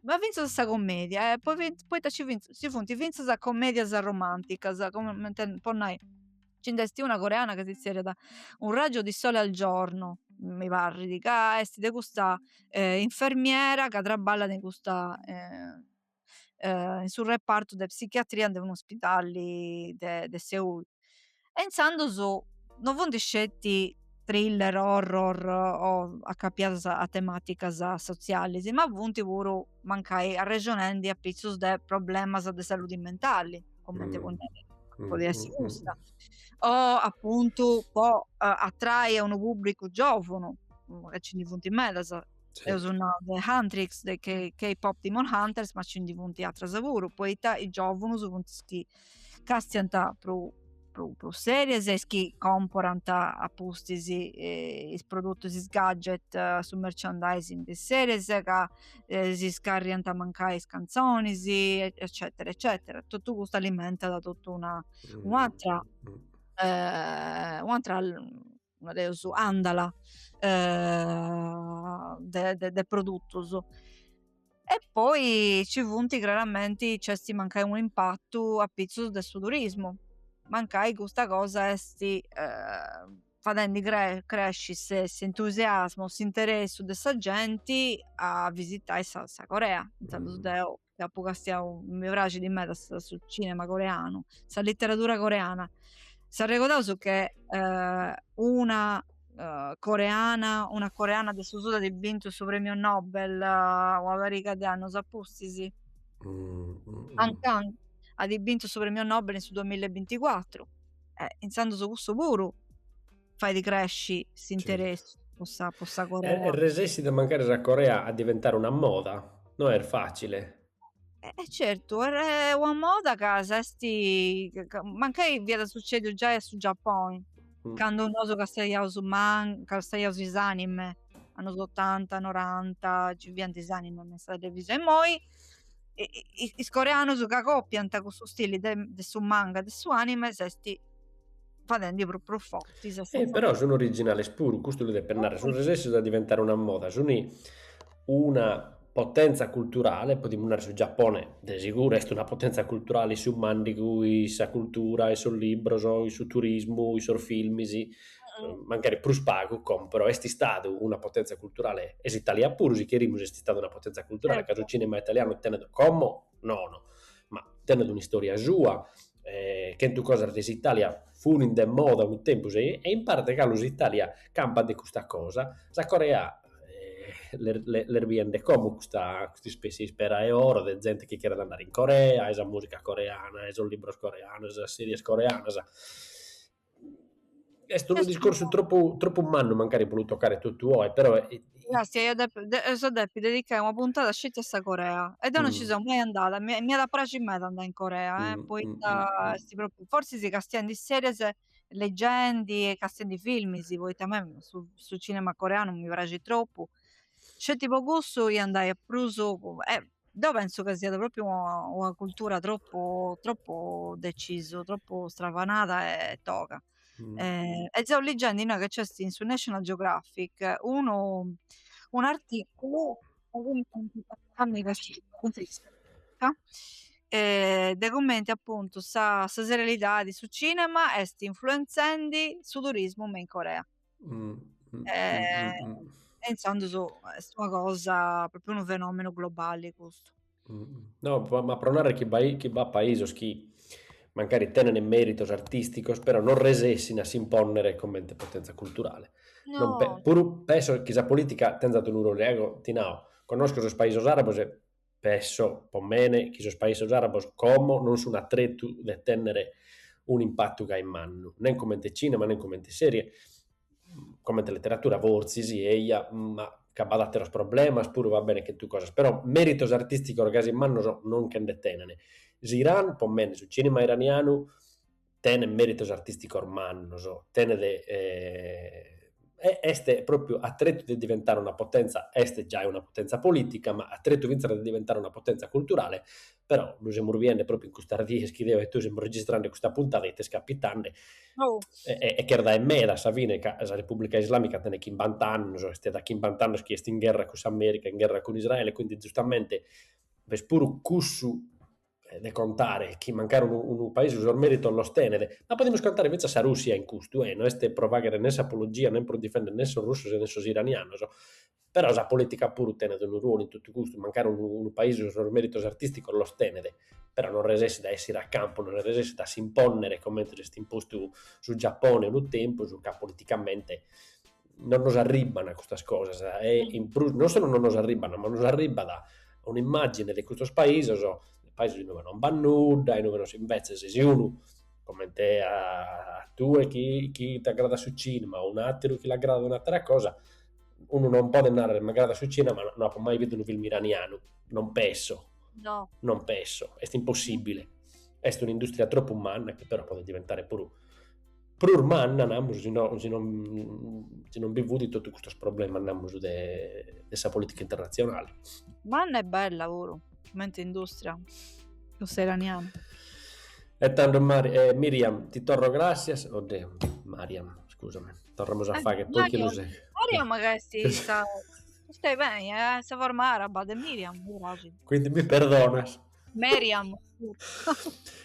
ma finzas sa commedia e poi, poita ci funt finzas commedias romanticas comente po nai nci nd'est una coreana ca si zerriat un raggio di sole al giorno mi parrit ca est de custa infermiera ca traballat in custa in su repartu de psichiatria de un'ospidali de Seul. E intzandus no funt sceti thriller, horror o acapiadas a tematicas sotzialis, ma funt puru, mancai arrexonendi, apitzus de problemas de saludi mentali, cumenti podit essi custa, o apuntu po atrai a unu pubbricu giovunu, ca nci ndi funt medas, Sì. Eus nau de Huntrix, de K-pop Demon Hunters, ma ci ndi funt atras puru, poita is giovunus funt is chi castiant prus prus series e is chi comporant a pustis eh, is produtus is gadget eh, su merchandising de series ca eh, si scarriant mancai is canzonis eccetera eccetera totu custu alimentat totu una mm, un'atra mm. eh, un'atra nareus, andala de de de produtus e poi ci funt craramenti nc'est mancai unu impatu apitzus de su turismu mancai custa cosa esti fadendi cre- cresci se s'entusiasmu, s'interessu de sa genti a visitai sa Corea intzandus deu ca apu castiau, mi praxit meda su cinema coreanu, sa literadura coreana, s'arregodaus che eh, una eh, coreana, una coreana de su sud at bintu su premiu Nobel eh, una pariga de annus a pustis, mm, mm, mm. Han Kang at bintu su premiu Nobel in su duamilla e binticuatru, eh, intzandus cussu puru fait cresci s'interessu po sa po sa Corea. Est resessida mancari sa Corea a diventare una moda, no est facile. E eh, certu, est una moda ca s'est mancai fiat sucediu giai a su Giapponi, mm. candu nosu castaiaus man, castaiaus is anime annos 80, 90, ci fiant is anime me sa televisione, immoi is coreanus ca copiant cussu stili de, de su manga, de su anime, s'est fadendi prus prus forti sa sa. E però sun originales puru, custu lu depet narrer, sun resessios a diventare una moda, sun una potenza culturale, podimus narrer su Giappone de seguru est una potenza culturale in su mandigu, in sa cultura, in sos libros, in su turismu, in sos filmis, mancari prus pagu como però est istadu una potenza culturale e s'Italia puru si cherimus est istada una potenza culturale ca su cinema italianu tenet como nono ma tenet un'istoria sua, chentu cosas de s'Italia funin de moda unu tempus e in parte galu s'Italia campat de custa cosa, sa Corea l'est biende como custa custa ispessia ispera 'e oro de zente chi cheret andare in Corea, 'e sa musica coreana, 'e sos libros coreanos, 'e sas series coreanas Est unu discorsu tropu tropu mannu mancari po lu tocare totu oe, però... Grazie, eia depi, dd'eus a depi dedicai una puntada sceti a sa Corea, e deu non ci seu mai andada, mi, m'iat a praxi meda andai in Corea, eh, poita est propriu, forsis castiendi series e legendi e castiendi filmis, poita a mei su su cinema coreanu mi praxit tropu, sceti po cussu ia andai a Busan, Deu penso ca siat propriu una cultura tropu tropu decisu, tropu stravanada e toga. Mm. Eh, e seu liggendi innoi ca nc'est in su National Geographic unu, un articulu eh, de cumenti appuntu sa, sa serialidadi, su cinema est influenzendi su turismu me in Corea. Mm, mm, eh, mm, mm, e intzandus est una cosa, propriu unu fenomenu globali custu. No, ma pro narrere chi, bai, chi b'at paisos chi mancari tenent meritos artisticos, però non resessin a si imponnere comente potenza culturale. No. Non pe, puru penso chi sa politica tenzat unu ruolu, ego ti nao, conosco sos paisos arabos e Penso, po mene, chi sos paisos àrabos como non sun a tretu de tènnere un'impatu gai mannu, nen comente tzìnema, nen comente sèrie, comente leteratura fortzis, eja, ma ca b'at àteros problemas puru, va bene, chentu cosas, però mèritos artìsticos gasi mannos non nche nde tenent. S'Iran, po mene, su tzìnema iranianu tenet mèritos artìsticos mannos, tenet e est pròpriu a tretu de diventare una potèntzia, est giai una potèntzia polìtica, ma a tretu fintzas de diventare una potèntzia culturale, però lu semus biende pròpriu in custas dies chi deo e tue semus registrende custa puntada ite est capitende e e creer dae meda a sa fine ca sa Repùblica Islàmica tenet chimbant'annos, est dae chimbant'annos chi est in gherra cun s'Amèrica, in gherra cun Israele, quindi giustamente b'est puru cussu eh, de contare chi mancari unu, unu paisu sos meritos los tenet, ma podimus contare fintzas sa Russia in custu, e no est pro faghere ne s'apologia ne pro difendere ne sos russos e ne sos iranianos, però sa politica puru tenet unu ruolu in totu custu, mancari unu, unu paese sos meritos artisticos los tenet, però non resessit a essire a campu, non resessit a s'imponnere comente s'est impostu su Giappone unu tempus, ca politicamente non nos arribban custas cosas e in prus non solu non nos arribban, ma nos arribbat un'immàgine de custos paisos, paisos inue non b'at nudda, inue non si, imbetzes si unu comente a tue chi chi t'agradat su cinema o un'àteru chi l'agradat un'àtera cosa, unu non podet narrer m'agradat su cinema ma no apo mai bidu unu film iranianu, non penso, non penso, est impossìbile, est un'indùstria tropu manna chi però podet diventare puru prus manna, namus, si no si non bi fut totu custos problemas, namus, de de sa politica internatzionale. Manna e bella puru, cumenti industria, cussa iraniana. E tando Mari Miriam ti torro gràssias, oddeu Mariam, scusami, torramus a fagher po chi lu seghet. Mariam ca est sa, est beni, est sa forma araba de Miriam, mi praxit. Quindi mi perdonas. Miriam.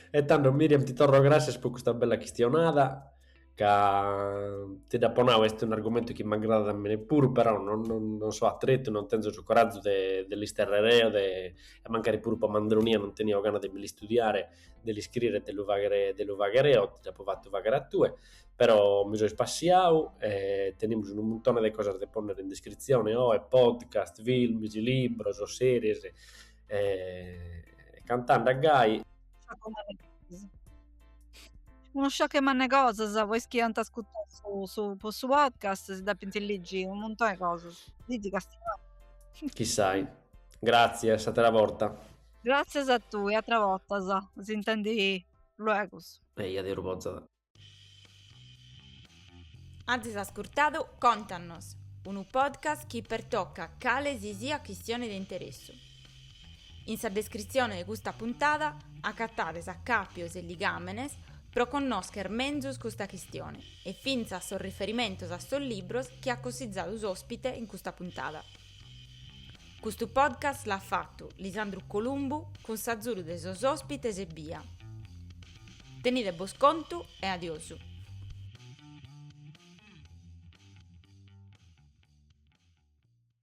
e tando Miriam ti torro gràssias po custa bella chistionada ca ti dd'apo nau est un'argumentu chi m'agradat a mene puru però non, non, non so atretu, non tenzo su corazu de, de l'isterrere eo de, e mancari puru po mandronia non tenio gana de mi l'istudiare, de l'iscrire e de lu faghere, de lu faghere eo, ti dd'apo fatu faghere a tue, però mi so ispassiau e tenimus unu muntone de cosas de pònnere in descritzione oe, podcast, films, libros, series, E cantande a gai. Unu sciacu mannu 'e cosas, pois chi ant ascutau su su po su podcast si depint ligi unu muntoni 'e cosas, ligi castiai. Chissai. Gratzie, a s'atera borta. Gratzias a tui, atras bortas. S'intendi luegus. Eia, Deus bozat. Azis ascurtadu Contannos, unu podcast chi pertocat cale si siat chistione de interessu. In sa descritzione de custa puntada acatades acàpios e ligàmenes pro connòscher menzus custa chistione e fintzas sos riferimentos a sos libros chi at cossizadu s'òspite in custa puntada. Custu podcast l'at fatu Lisandru Columbu cun s'azudu de sos òspites ebbia. Tenide bos contu e adiosu.